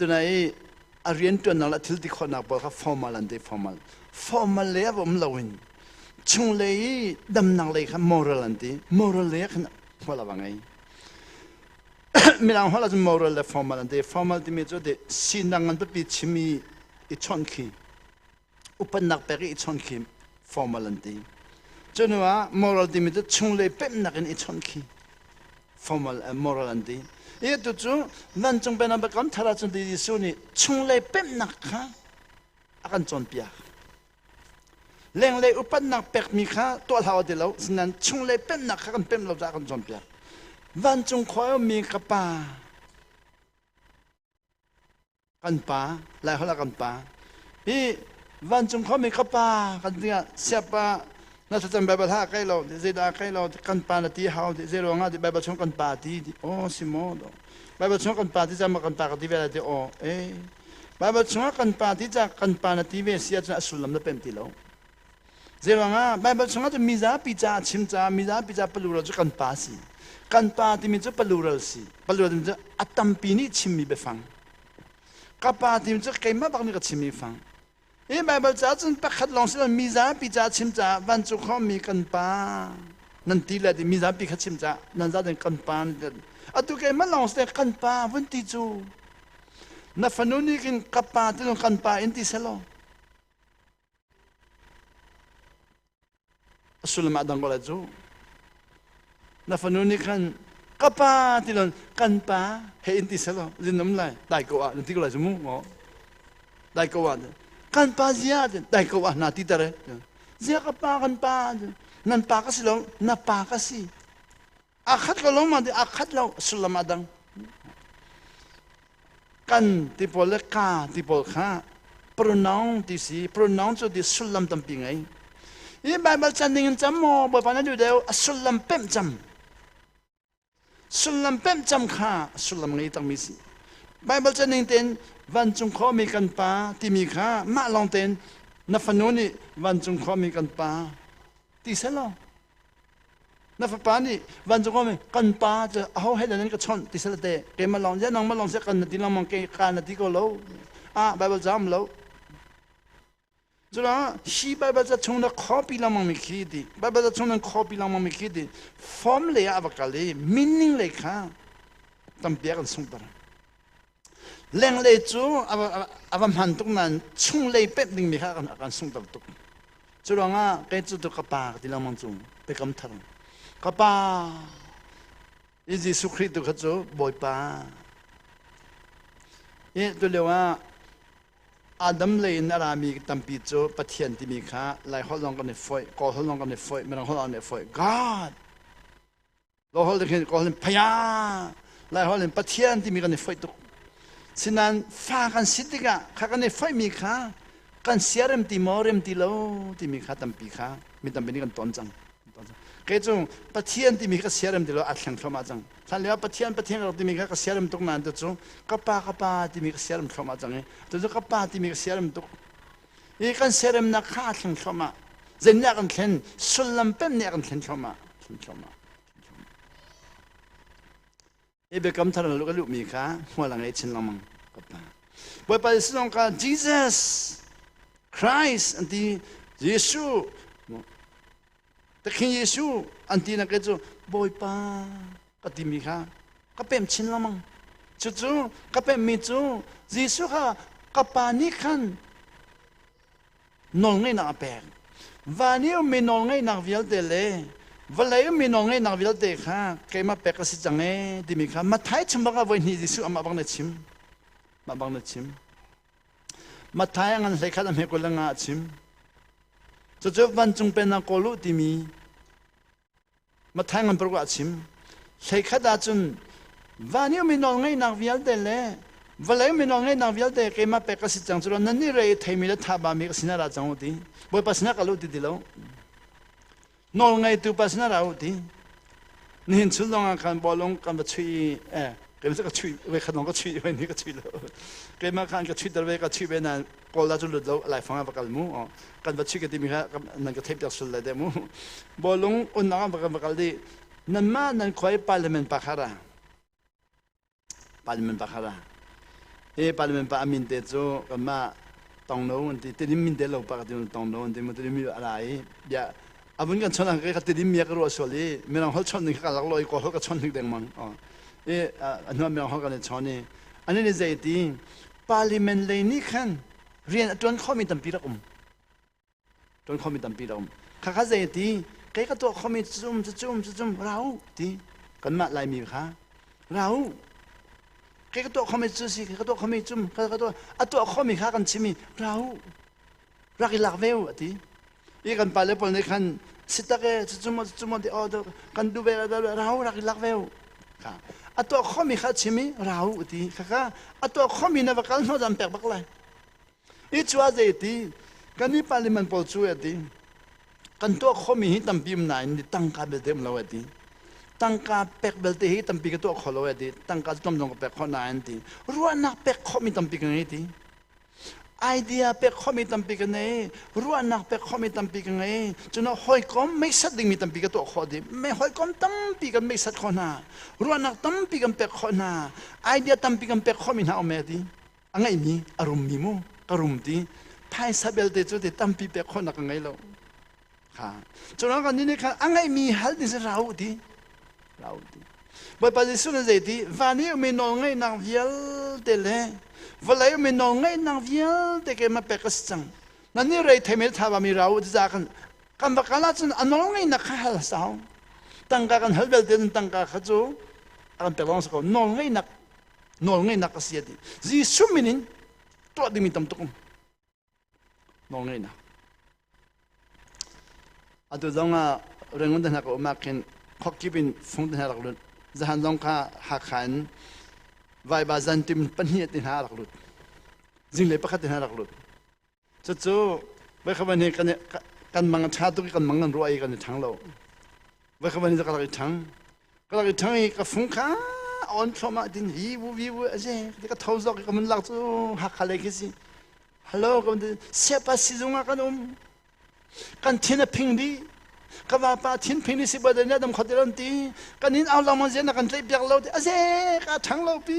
Tuna i a rianṭuannak le a thil ti khawhnak pawl kha formal an ti formal. Formal lei ah va um loin chunglei i damnak lei kha moral an ti. Moral lei ah khan hmual a va ngei. Mirang holh ahcun moral le formal an ti. Formal timi cu sinak nganpipi chim i i chawnh khi upannak pek i chon khi formal an ti cu hnu ah moral timi cu chung le pemnak in i chon khi formal uh, moral an ti i tu cu nan cung pen abakam thara cun ti Jesuh nih chung le pemnak kha a kan cawnpiak lenglei upannak pekmi kha tuah hlau ti lo sinan chung le pemnak kha kan pem lo ca kan cawnpiak vancung khua mi ka pa kan pa Laiholh ah kan pa hi vancung khuami ka pa kan tingah siapa na thlacam Baibal hlah kai lo zeidah kai lo kan pa na ti hau ti zei ruangah ti Baibal chung kan pa ti ti aw si maw do Baibal chung kan pa ti cang kan pa ka ti ve lai ti aw eh Baibal chung kan pa ti cang kan pa na ti ve si ahcun a sullam na pem ti lo Zeirangah Baibal chungah cun mizapi caah chim caah mizapi caah palural cu kan pa si. Kan pa timi cu palural si. Palural timi cu a tampi nih chimmi biafang. Ka pa timi cu keimah bak nih ka chimmi fang. Hi Baibal caah cun pakhat lawng si lo mizapi caah chim caah vancung khawmmi kan pa nan ti le ti mizapi kha chim caah nan zat in kan pa nan ti. Atu keimah lawng si te kan pa vun ti cu na fanu nih khin ka pa tilung kan pa in ti selaw sullam a dang ko lai cu na fanu nih khan ka pa ti lon kan pa he in ti selo zin nam lai dai ko a ti ko lai mu ngo dai ko a kan pa zia dai ko a na ti tare zia ka pa kan pa nan pa ka si lo na pa ka si a khat lo longmang ti a khat lo sullam a dang kan ti pawl le ka ti pawl kha pronoun ti si pronoun cu ti sullam tampi ngei i bible chan ning in cam maw bawipa na duh deu a sullam pemh cam sullam pemh cam kha sullam ngei takmi si bible chan ning tein vancung khuami kan pa timi kha mah lawng tein na fanu nih vancung khuami kan pa ti selaw na fapa nih vancung kom kan pa cu aho he nan ka chawnh ti sal te keimah lawng zia nangmah lawng zia kan na ti lengmang ke ka na ti ko lo ah bible jam lo cula hi bible ca chung na copy lengmang mi khi di bible ca chung nan copy lengmang mi khi di form le ah va kal i meaning le kha tampiak an sung tar Lenglei cu a va hman tuk nain chunglei pemh dingmi kha a kan sungter tuk. Cu ruangah kei cu ka pa ka ti lengmang cung biakam thar. Ka pa i Jesuh Khrih tu kha cu Bawipa i tu lio ah Adam lei in a rami tampi cu Pathian timi kha Laiholh lawng kan i foih, Kawlholh lawng kan i foih, Mirang holh lawng kan i foih. God Lo hol khin ko hin phaya lai hol in Pathian timi kan i foih tuk. Sinan fa kan si tikah kha kan i foih mi kha kan sia rem ti maw rem ti lo timi kha tampi kha mi tampi nih kan ton cang. Kei cu Pathian timi ka sia rem ti lo a thleng thluamah cang. Hlan lio Pathian Pathian ka timi kha ka sia rem tuk nain tu cu ka pa ka pa timi ka sia rem thluamah cang i tu cu ka pa timi ka sia rem tuk i kan seremnak kha a thleng thluahmah zen nih a kan thlen sullam pem nih a kan thlen thluahmah thlen thluahmah hi biakam thar luka luhmi kha hmual a ngei chin lengmang ka pa bawipa sinong ka jesus christ anti jesuh Ka King Jesuh an ti nak cu Bawipa ka timi kha ka pem chin lengmang. Cucu ka pemmi cu Jesuh kha ka pa nih khan nawlngeihnak a pek. Van i ummi nawlngeihnak vialte le vawlei ummi nawlngeihnak vialte kha keimah pek a si cang ee timi kha Matthai chim bak ah voi hnih Jesuh amah bang na chim. Mah bang na chim. Mathai ngan hlei khat a hmekul ang ah a chim. Cucu vancung pen ah kawl u timi Mathai ngan paruk ah a chim. Hlei khat ah cun van i mi nawl ngaihnak vialte le valei mi nawl ngaihnak vialte keimah pek ka si cang cu nan ni re i theimi le thaba mi ka sinah ra cang u ti. Bawipa sinah ka lu ti ti lo. nawlngeitu pa sinah ra u ti nihin chun zongah khan bawlung kan va chuih i eh keimah ka chuih ve khan ka chuih ve ni ka chuih lo keimah khan ka chuih ter ve ka chuih ve na kawla cu lut lo laifang ah va kal mu kan va chuih ka timi kha nan ka theih piak sul le de mu bawlung unnak ah va kan va kal di nan mah nan khoi parliament pa khara Parliament pakhat ah. Hi Parliament pa a min te cu kanmah tongno an ti. Tidim min te lo pa ka ti tongno an ti. Mu tidim mi a ra i bia a vun kan chawnh ka ka tidim mi a ka ruah sual i mirang holh chawnh ning kha ka lak lo i kaw holh ka chawnh hnik dengmang. I a hnuah mirang holh kan i chawnh i ani nih zei ti parliament lei nih khan rian a tuan khomi tampi rak um. Tuan khomi tampi a um. Khakha zei a ti, kei ka tuah khomi cucum, cucum, cucum, ra u, ti. Kanmah Laimi kha, ra u. Kei ka tuah khomi cu si, kei ka tuah khomi cum, ka ka tuah, a tuah khomi kha kan chim i, ra u. Rak i lak ve u, a ti. I kan pale pawl nih khan, sitak e, cucum, cucum, ti, oh, kan duh ve, ra u, rak i lak ve u. A tuah khomi kha chim i, ra u, ti. Khakha, a tuah khomi na va kal hnawh zan pek bak lai. i cu ah zei ti kan i parliament pawl cu a ti kan tuah khomi hi tampi um nain ni tangka belte um lo a ti tangka pek belte hi tampi ka tuah kho lo a ti tangka cu tam dong ka pek khawh na an ti ruahnak pek khomi tampi ka ngei ti idea pek khomi tampi ka ngei ruahnak pek khomi tampi ka ngei cuna hawikom meisat dingmi tampi ka tuah khawh ding me hawikom tampi kan meisat khawh hna ruahnak tampi kan pek khawh hna idea tampi kan pek khomi hna um e ti A ngeihmi a rummi mu ka rum ti phaisa belte cu te tampi pek khawhnak ka ngei lo. Kha. Cun kan nih khan a ngeihmi hal ni si ra u ti. Ra u ti. Bawipa Jesuh nih zei ti van i ummi nawl ngeihnak vialte le vawlei ummi nawl ngeihnak vialte keimah pek ka si cang. Nan nih rei theimel thawami ra u tiza kan kan va kal ahcun a nawl ngeihnak kha hal sau. Tangka kan hal belte tangka kha cu a kan pek lawng si ko. Nawl ngeihnak nawlngeihnak a si a ti Jesuh min in tuah dingmi tam tuk um nawlngeihnak atu zong ah rengun te hna ka um ah khin khokkip in fung te hna rak lut zahan zong kha hakha in vaiba zantim pahnih te hna rak lut zinglei pakhat te hna rak lut Cucu vekhavan hi kan kan mang tha tuk i kan mang nan ruah i kan i thang lo. Vekhavan hi ka rak i thang. Ka rak i thang i ka fung kha on thlomah din hi wu vi wu a je ti ka tho zok i ka mun lak cu hakha lei khi si. Hello ka mun siapa sizunga kan um. Kan thin a phing di. Ka vapa thin phing di si ba danya dam khote lon ti. Kan in au lang mon je na kan tlei piak lo ti a je ka thang lo pi.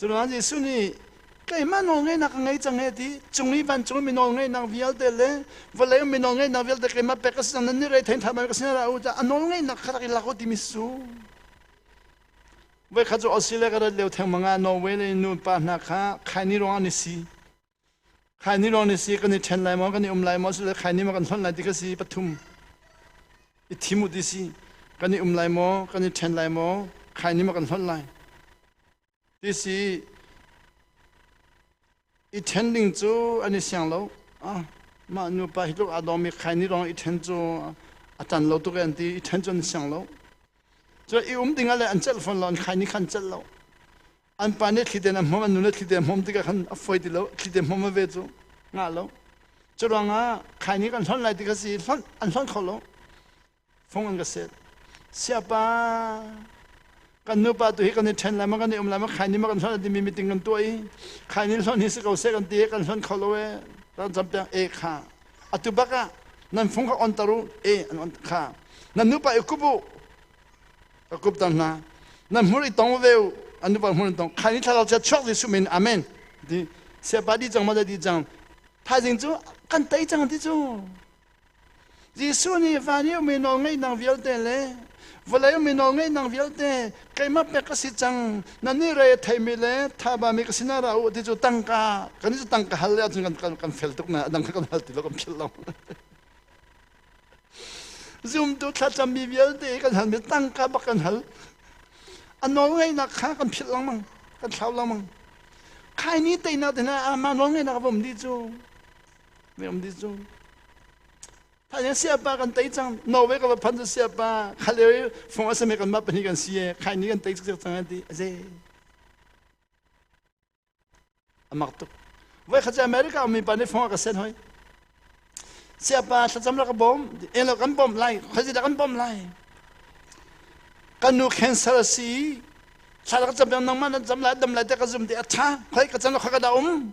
Culuan Jesuh nih keimah nawlngeihnak ka ngei cang heh ti cung i vancung mi nawlngeihnak vialte le vawlei mi nawlngeihnak vialte keimah pek ka si cang nan nih rei thein ṭhat ka si ra u a nawlngeihnak kha rak i lak u timi si Voikhat cu Australia ka rat lio theng manga Norway le nupa hna kha khaini ruangah ni si Khai ni lawng ni si kan i ṭhen lai maw, kan i um lai maw, asile khai ni maw kan hlonh lai ti ka si pathum i thim u ti si. Kan i um lai maw, kan i ṭhen lai maw, khai ni maw kan hlonh lai. Ti si i ṭhen ding cu an i siang lo. Ah, mah nupa hi tluk aa dawmi khai ni lawng i ṭhen cu a tan lo tuk an ti. I ṭhen cu an siang lo. Cu i um dingah le an celh fawn lo, an khai ni kha an celh lo. an pa nih thliten a hmawm an nu nih thliten a hmawm tikah khan a foi ti lo thliten hmawm ve cu ngah lo curuangah khai ni kan hlonh lai ti kha si hlonh an hlonh kho lo fung an ka set siapa kan nupa tu hi kan i ṭhen lai ma kan i um lai ma khai ni ma kan hlonh lai timi meeting kan tuah i khai ni hlonh hi si ko seh kan ti kan hlonh kho lo e ran campiak e kha atu bak ah nan fung kha on tar u e an on kha nan nupa i kup u ka kup tang hna na hmur i tong ve an nu pa hmur in tong khai ni thlarau chia chuak Jesuh min amen ti sepa di cang ma di cang thaizing cu kan tei cang ti cu Jesuh nih van i men ol ngai nang vialte le vawlei men ol ngai nang vialte keima pek ka si cang nan ni re theimi le thaba mi ka sina ra u ti cu tangka kan ni cu tangka hal le cun kan kan kan fel tuk na dang kan hal ti lo kan phil lo zumtu thlacammi vialte kan hal mi tangka bak kan hal a nawlngaihnak kha kan philh lengmang kan thlau lengmang khai ni teinak te hna ama nawlngaihnak a vom di cu mi um di cu phanh in siapa kan tei cang norway ka va phan cu siapa khale fong asame kan ma pahnih kan si e khai ni kan tei cang cang ti a ze A mak tuk. Voi khat cu America um mipa nih fong a ka sen hoi. Siapa thlacam la ka bawm, en lo kan bawm lai, khuazi dah kan bawm lai. Kan nu cancer a si i, thla ka cam peng nang ma nan cam lai, dam lai te ka zum te a tha. Khoi ka can lo khoi ka da um.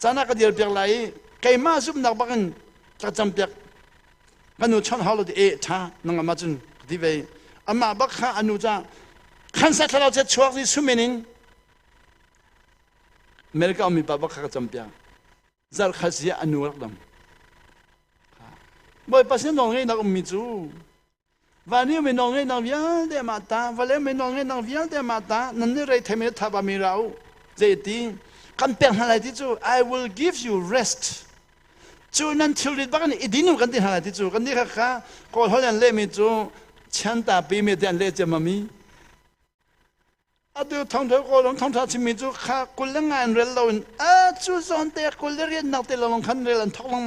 Caan ah ka dial piak lai i keimah zumhnak bak in ka cam piak ka nu chawnh hau lo ti e ṭha nang amah cun ka ti ve amah bak kha a nu ca khansa thlarau chiat chuak si sumin in America ummi pa bak kha ka cam piak zarh kha si ah a nu rak dam Bawipa sin zong hi na ummi cu van hi minong nge nang vialte ma ta vale minong nge nang vialte ma ta nan ni rei theme tha ba mi ra u je ti kan pek hna lai ti chu i will give you rest chu nan thil rit bak ni idin kan ti hna lai ti chu kan ni kha kha ko hol an le mi chu chan ta pi me den le che ma mi atu thong thau ko long thong tha chimi chu kha kul le ngan rel lo in a chu zon te kul le rian nak te long khan rel an thok long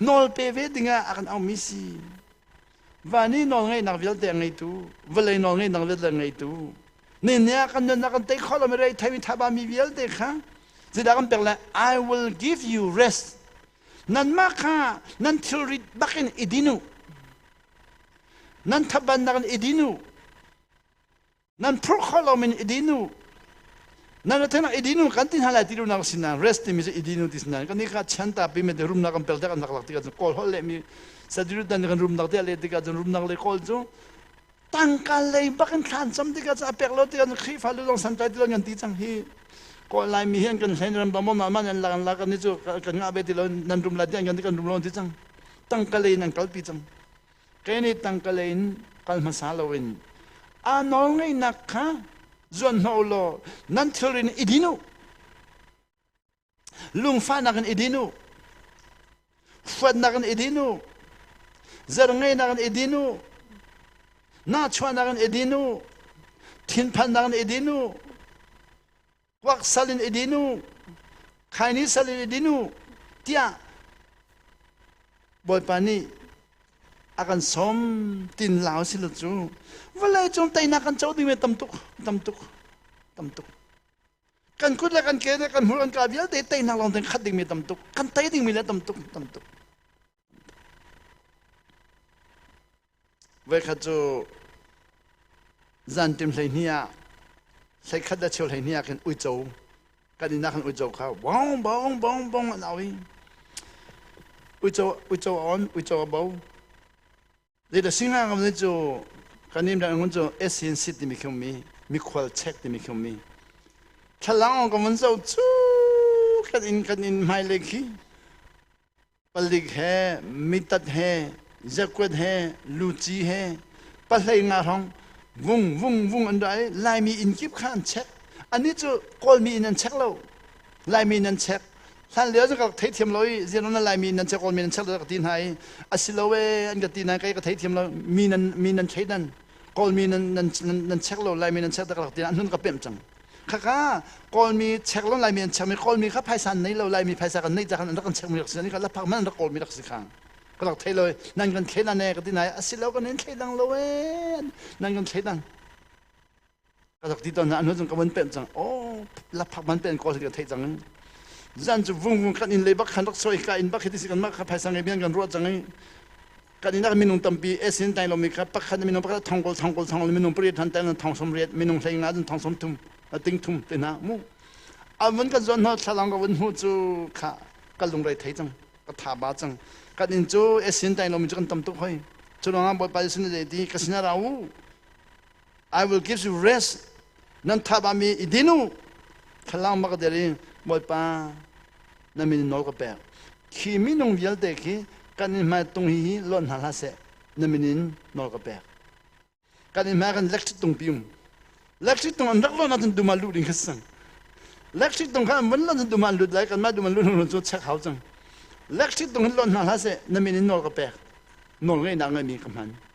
Nawl pe ve dingah a kan aumi si. Van i nawlngeihnak vialte a ngeitu, vawlei nawlngeihnak vialte a ngeitu, ninia kan nunnak kan tei khawh lo mi rei thei mi thaba mi vialte kha zidah kan pek le I will give you rest nanmah kha nan thilri bakin i din u nan thabannak in i din u nan phurh kho lo min idinu nan athena idinu kan ti hna lai ti lunak sin na rest timi cu idinu ti sin kan ni ka chan ta pi me de rumnak kan pel te kan nak lak ti kan kawl hol le mi sadiru dan kan rumnak te le ti ka rumnak le kawl cu tangka lei bak in thlan cham ti ka cha pek lo ti kan khrifa lu long san tai ti lo ngan ti chang hi ko lai mi hian kan hlen ram dom ma man an la kan la kan ni chu kan nga be ti lo nan rum la ti kan kan rum lo ti chang tangka lei nan kal pi chang Ṭene tangkalei in kal hmasa loin aa nawlngeihnak kha zuan hna u law nan thilri in i din u. Lungfahnak in i din u. Huatnak in i din u. Zarngeihnak in i din u. Nahchuahnak in i din u. Thinphannak in i din u. kuak sal in idin u khaini sal in idin u tiah bawipa nih a kan som tin lau si lo cu vawlei cung teinak kan co ding ve tam tuk tam tuk tam tuk kan kut le kan ke le kan hmur an ka vialte teinak lawng ten khat ding mi tam tuk kan tei ding mi le tam tuk tam tuk Voikhat cu zantim hleihnih ah hleikhat a cheu hleihnih ah khin uico kan inn ah khan uico kha bong bong bong bong an au i uico uico a on uico a bo Zeita singa ngam ni cu kan nim dan ngun cu SN sit timi khi mi mikhual chek timi khi mi thlalang ka mun zo chu kan in kan in mai le khi palik he mitat he zakwet he luci he pahlei nga hong vung vung vung an dai laimi in kip khan check ani chu kawlmi in an check lo Laimi nan chek. Hlanlio ka ka theithiam lo i zianon nan Laimi nan chek men nan chek lo ka ti hna i a si lo ee an ka ti na kai ka theithiam lo mi nan mi nan thei nan kawlmi nan nan nan chek lo Laimi nan chek tak ka ti anun ka pemh cang khaka kawlmi chek lo Laimi an chek mi kawlmi kha phaisan nei lo Laimi phaisa kan nei cakhan rak kan chek mi rak si ni ka la phak man rak kawlmi rak si khang ka rak thei lo nan kan thei na ne ka ti na a si lo kan nan thei dang lo ee nan kan thei dang ka rak ti ton anu zung ka van pen cang oh laphak man pen ko ka thei cang zan cu vung vung kan in le bak khan rak soi ka in bak hiti si kan ma kha phaisa ngai bian kan ruat cang kan in minung tampi esin tai lomi kha pakhat minung pakhat thong kol thong kol thong minung pariat han tai thong som riat minung hleng na thong som thum ting thum te na mu amun kan zon ho thlalang ka wan hu cu kha ka lung rai thei cang ka tha ba cang kan in cu esin tai lomi cu kan tam tuk hoi chulong bot pa sun de ti kasina rau I will give you rest. Nan thabami i din u. Thlalang bak der i Bawipa na min nawl ka pek. Khi minung vialte khi kan in hmai tung hi hi lon hna hlah seh na min in nawl ka pek. Kan in hmai kan electric tung pium. Electric tung an rak lon ahcun duma lu ding khas sang. Electric tung kha mun lon duma lut lai kan ma duma lu hlun cu check hau cang. Electric tung hin lon hna hlah seh na min in nawl ka pek. Nawl ngei nak ngeimi ka hman.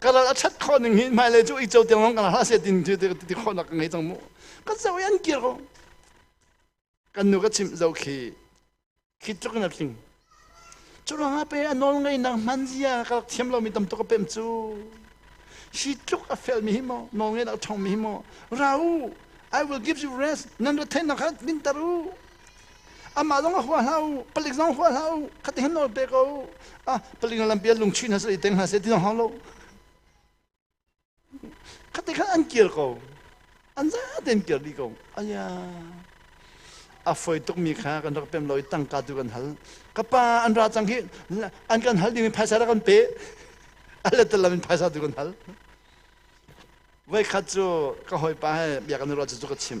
ka lal a that khawh ning hi hmailei cu icau tiang long kana hlah se tin ti ti khawh nak ka ngei cang mu ka zo yan kir ko kan nu ka chim zo khi khi tluk na tling curanga pe anol ngai nang man zia ka thiam lo mi tam to ka pem cu shi tluk a fel mi hi mo no nge nak thong mi hi mo rau I will give you rest nan ra then na khat min taru Amah zong a hua hlah u, palik zong hua hlah u, khati hin nawl pe ko u. Ah, palik na lampi a lung chuin hna seh, teng hna seh, ti zong hau lo. Khati khan an kir ko. An za tein kir dih ko. Aya. A foi tukmi kha kan rak pem lo i tangka tu kan hal. Ka pa an ra cang hi an kan hal ding in phaisa rak kan pe. Alle talam in phaisa tu kan hal. Voi khat cu ka hoi pa he biakana rual cu ka chim.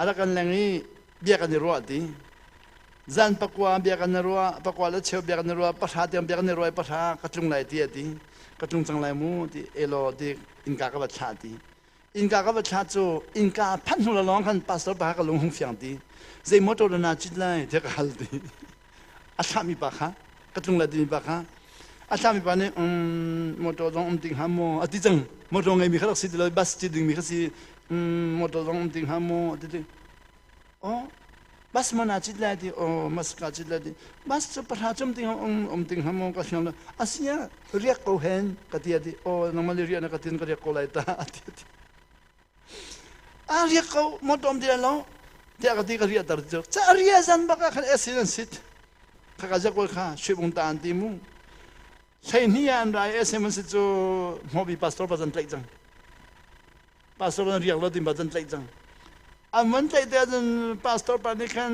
A rak kan leng i bia kan i ruah ti. Zan pakua bia kan i ruah, pakua le cheu bia kan i ruah, pahra tiang bia kan i ruah i pahra ka tlung lai ti a ti. Ka tlung cang lai mu ti elaw ti innka ka va thlah ti. Innka ka va thlah cu innka phanh hnu lawng khan pastor pa ka lung hung fiang ti. Zei mawtaw dah naa cit lai tiah ka hal ti. a thlahmi pa kha ka tlungla timi pa kha a thlahmi pa nih um, motor zong um ti hnga maw a ti cang motor ngeimi kha rak si ti lo bus ci dingmi kha si um, motor zong um ti hnga maw a ti ti oh bus mana cit lai ti oh mas ka cit lai ti bus cu pahra cum ti um um ti hnga maw ka hliang lo asia riak ko hen ka ti ati oh nangmah le riak na ka tin ka riak ko lai ta ati ati a riak ko motom te lo tiah ka ti ka riah ter cu cha ria zan bak ah khan acid an sit kha ka zakol kha shuibung ta an ti mu hlei ni an rai acid an sit cu mobi pastor pa zan tlaih cang pastor pa riak lo tin pa zan tlaih cang an man tlaih te cun pastor pa nih khan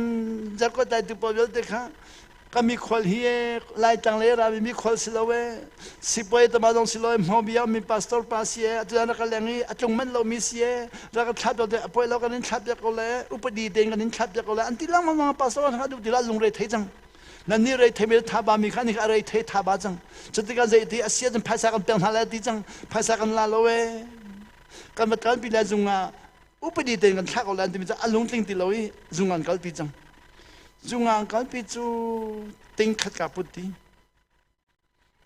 zakol tai tu pa vialte kha ka mikhual hi laitlang le rami mikhual si lo e sipuai tama dong si lo e hmobia mi pastor pa si e atu na ka leng i a tlung manh lo mi si e ra ka thlap te apoi lo kan in thlap te ko le upadi te kan in thlap te ko le anti lang ma ma pastor ka du tila lung re thei chang nan ni rei thei me tha ba mi khan ni rei thei tha ba chang chutikan zai ti asia jin phaisa kan peng hna la ti chang phaisa kan la lo e kan matal pi la zunga upadi te kan thlak ko le anti mi cha alung tling ti lo i zungan kal pi chang Zungang kalpi cu ting khat ka put ti.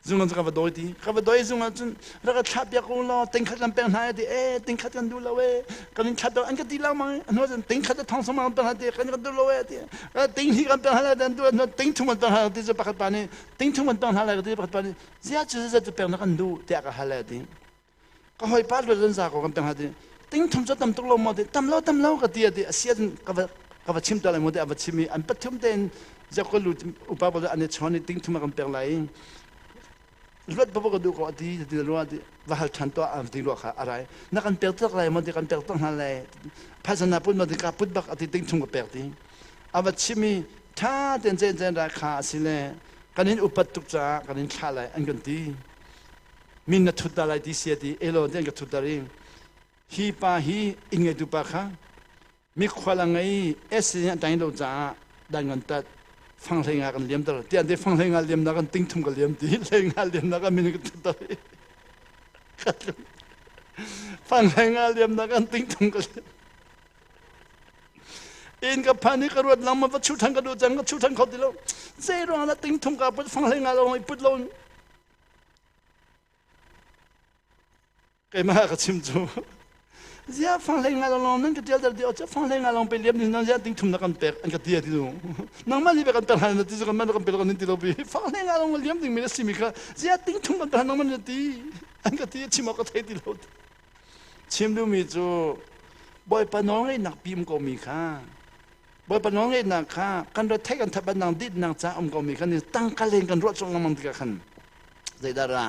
Zungang cu ka va dawi ti. Ka va dawi zungang cun rak ka thlah piak u law ting khat kan pek hna ti eh ting khat kan duh lo eh kan in thlat an ka ti lang mang hnu cun ting khat thong song pek hna ti kan kan duh lo eh ti ka ting hi kan pek hna dan tu hnu ting thum kan pek hna ti cu pakhat pa nih ting thum kan pek hna lai ka ti pakhat pa nih zia cu zia cu pek na kan duh tiah ka hal eh ti ka hoi pa luat lan za ko kan tang ha ti ting thum cho tam tuk lo mo de tam lo tam lo ka ti ati asia din ka va ka va chim ta lai mo de ava chim i an pathum ten jak ko lu upa bo ane chon ni ting thum kan pek lai luat ba ka du ko ati ti lo ati va hal than to am ti lo kha arai na kan pek tak lai mo de kan pek tak na lai phasana pun mo de ka put bak ati ting thum ka pek ti ava chimi tha ten chen chen ra kha asile kanin upat tuk cha kanin thla lai an kan ti min na thut dah lai DCAD elawn te an ka thut dah ring hi pa hi inn ngeitu pa kha mikhual a ngei SC nih tang lo caah dan ngan tat fang hlei nga kan liam ter tiah te fang hlei nga liam na kan ting thum ka liam ti hlei nga liam na kan min ka thut dah fang hlei nga liam na kan ting thum ka liam in ka phan i ka ruat lang ma va chu thang ka du chang ka chu thang kho ti lo zei ruang la ting thum ka put fang hlei nga lo put lo keimah ka chim cu zia fang lei ngai long nan ka tial dal deo fang lei ngai long pe liam din nan zia ting thum na kan pek an ka tia ti du nang ma ni be kan tar han na ti kan ma kan pe kan ni ti lo bi fang lei ngai long liam ding mi le si mi kha zia ting thum kan tar nang man ti an ka tia chim ka thei ti lo chim du mi cu boy pa no ngai nak pim ko mi kha Bawipa nawlngeihnak kha kan retheih kan thabat nang ditnak ca um komi kan i tangka len kan ruah chung lengmang tikah khan zeidah ra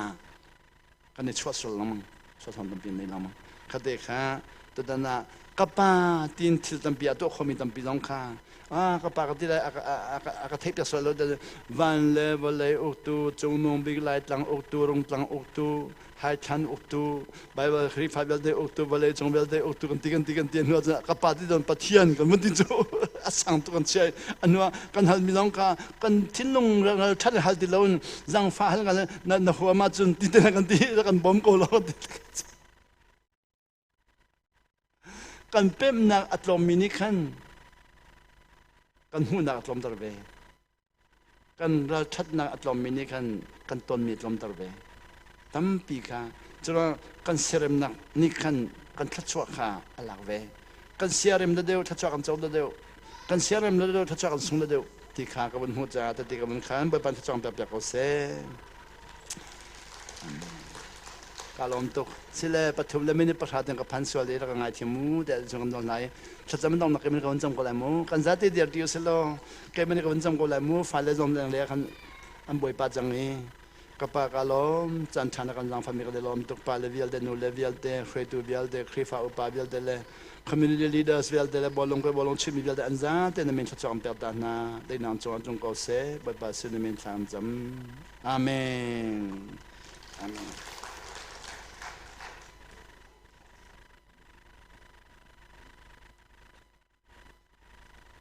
kan i chuah sul lengmang chuah thawm tampi nei lengmang khatte kha tutan ah ka pa tin thil tampi a tuah khomi tampi zong kha ah ka pa ka ti lai a ka theih piak sual lo van le vawlei uktu cungnung bik lai tlang uktu rung tlang uktu Haithlan uktu Bible Khrihfa vialte uktu vale cung vialte uktu kan ti kan ti kan ti hnuah cun ka pa ti don Pathian kan mun tin cu a sang tu kan chiai anua kan hal mi long ka kan thinlung ral than hal ti lo zangfa hal ga na na huama cun ti te kan ti kan bom ko lo ti kan pemnak a tlawmmi nih khan kan hmuhnak a tlawmter ve kan ralṭhatnak a tlawmmi nih khan kan tonmi a tlawmter ve tampi kha cun kan seremnak nih khan kan thluachuah kha a lak ve kan siarem le deu thluachuah kan co le deu kan siarem le deu thluachuah kan sung le deu ti kha ka vun hmuh caah tete ka vun khan bawipa thluachuah pek piak ko seh Ka lawm tuk. Sile pathum le minute pahra tiang ka phan sual i rak ka ngaithiam mu tiah cun kan nawl hna i thlacam in nawmnak keimah ka vun cam ko lai mu. Kan zate dir ti usih law keimah ka vun cam ko lai mu. Fale zawm leng le khan an bawipa cang i ka pa ka lawm caan ṭha na kan zaangfahmi ka lawm tuk pa le vialte nu le vialte hruaitu vialte Khrihfa upa vialte le Community leaders vialte le bawlung ke bawlung chimmi vialte an zate na min thluachuak ter ta hna dei nang cu an tlung ko seh Bawipa sin na min thla an zam Amen Amen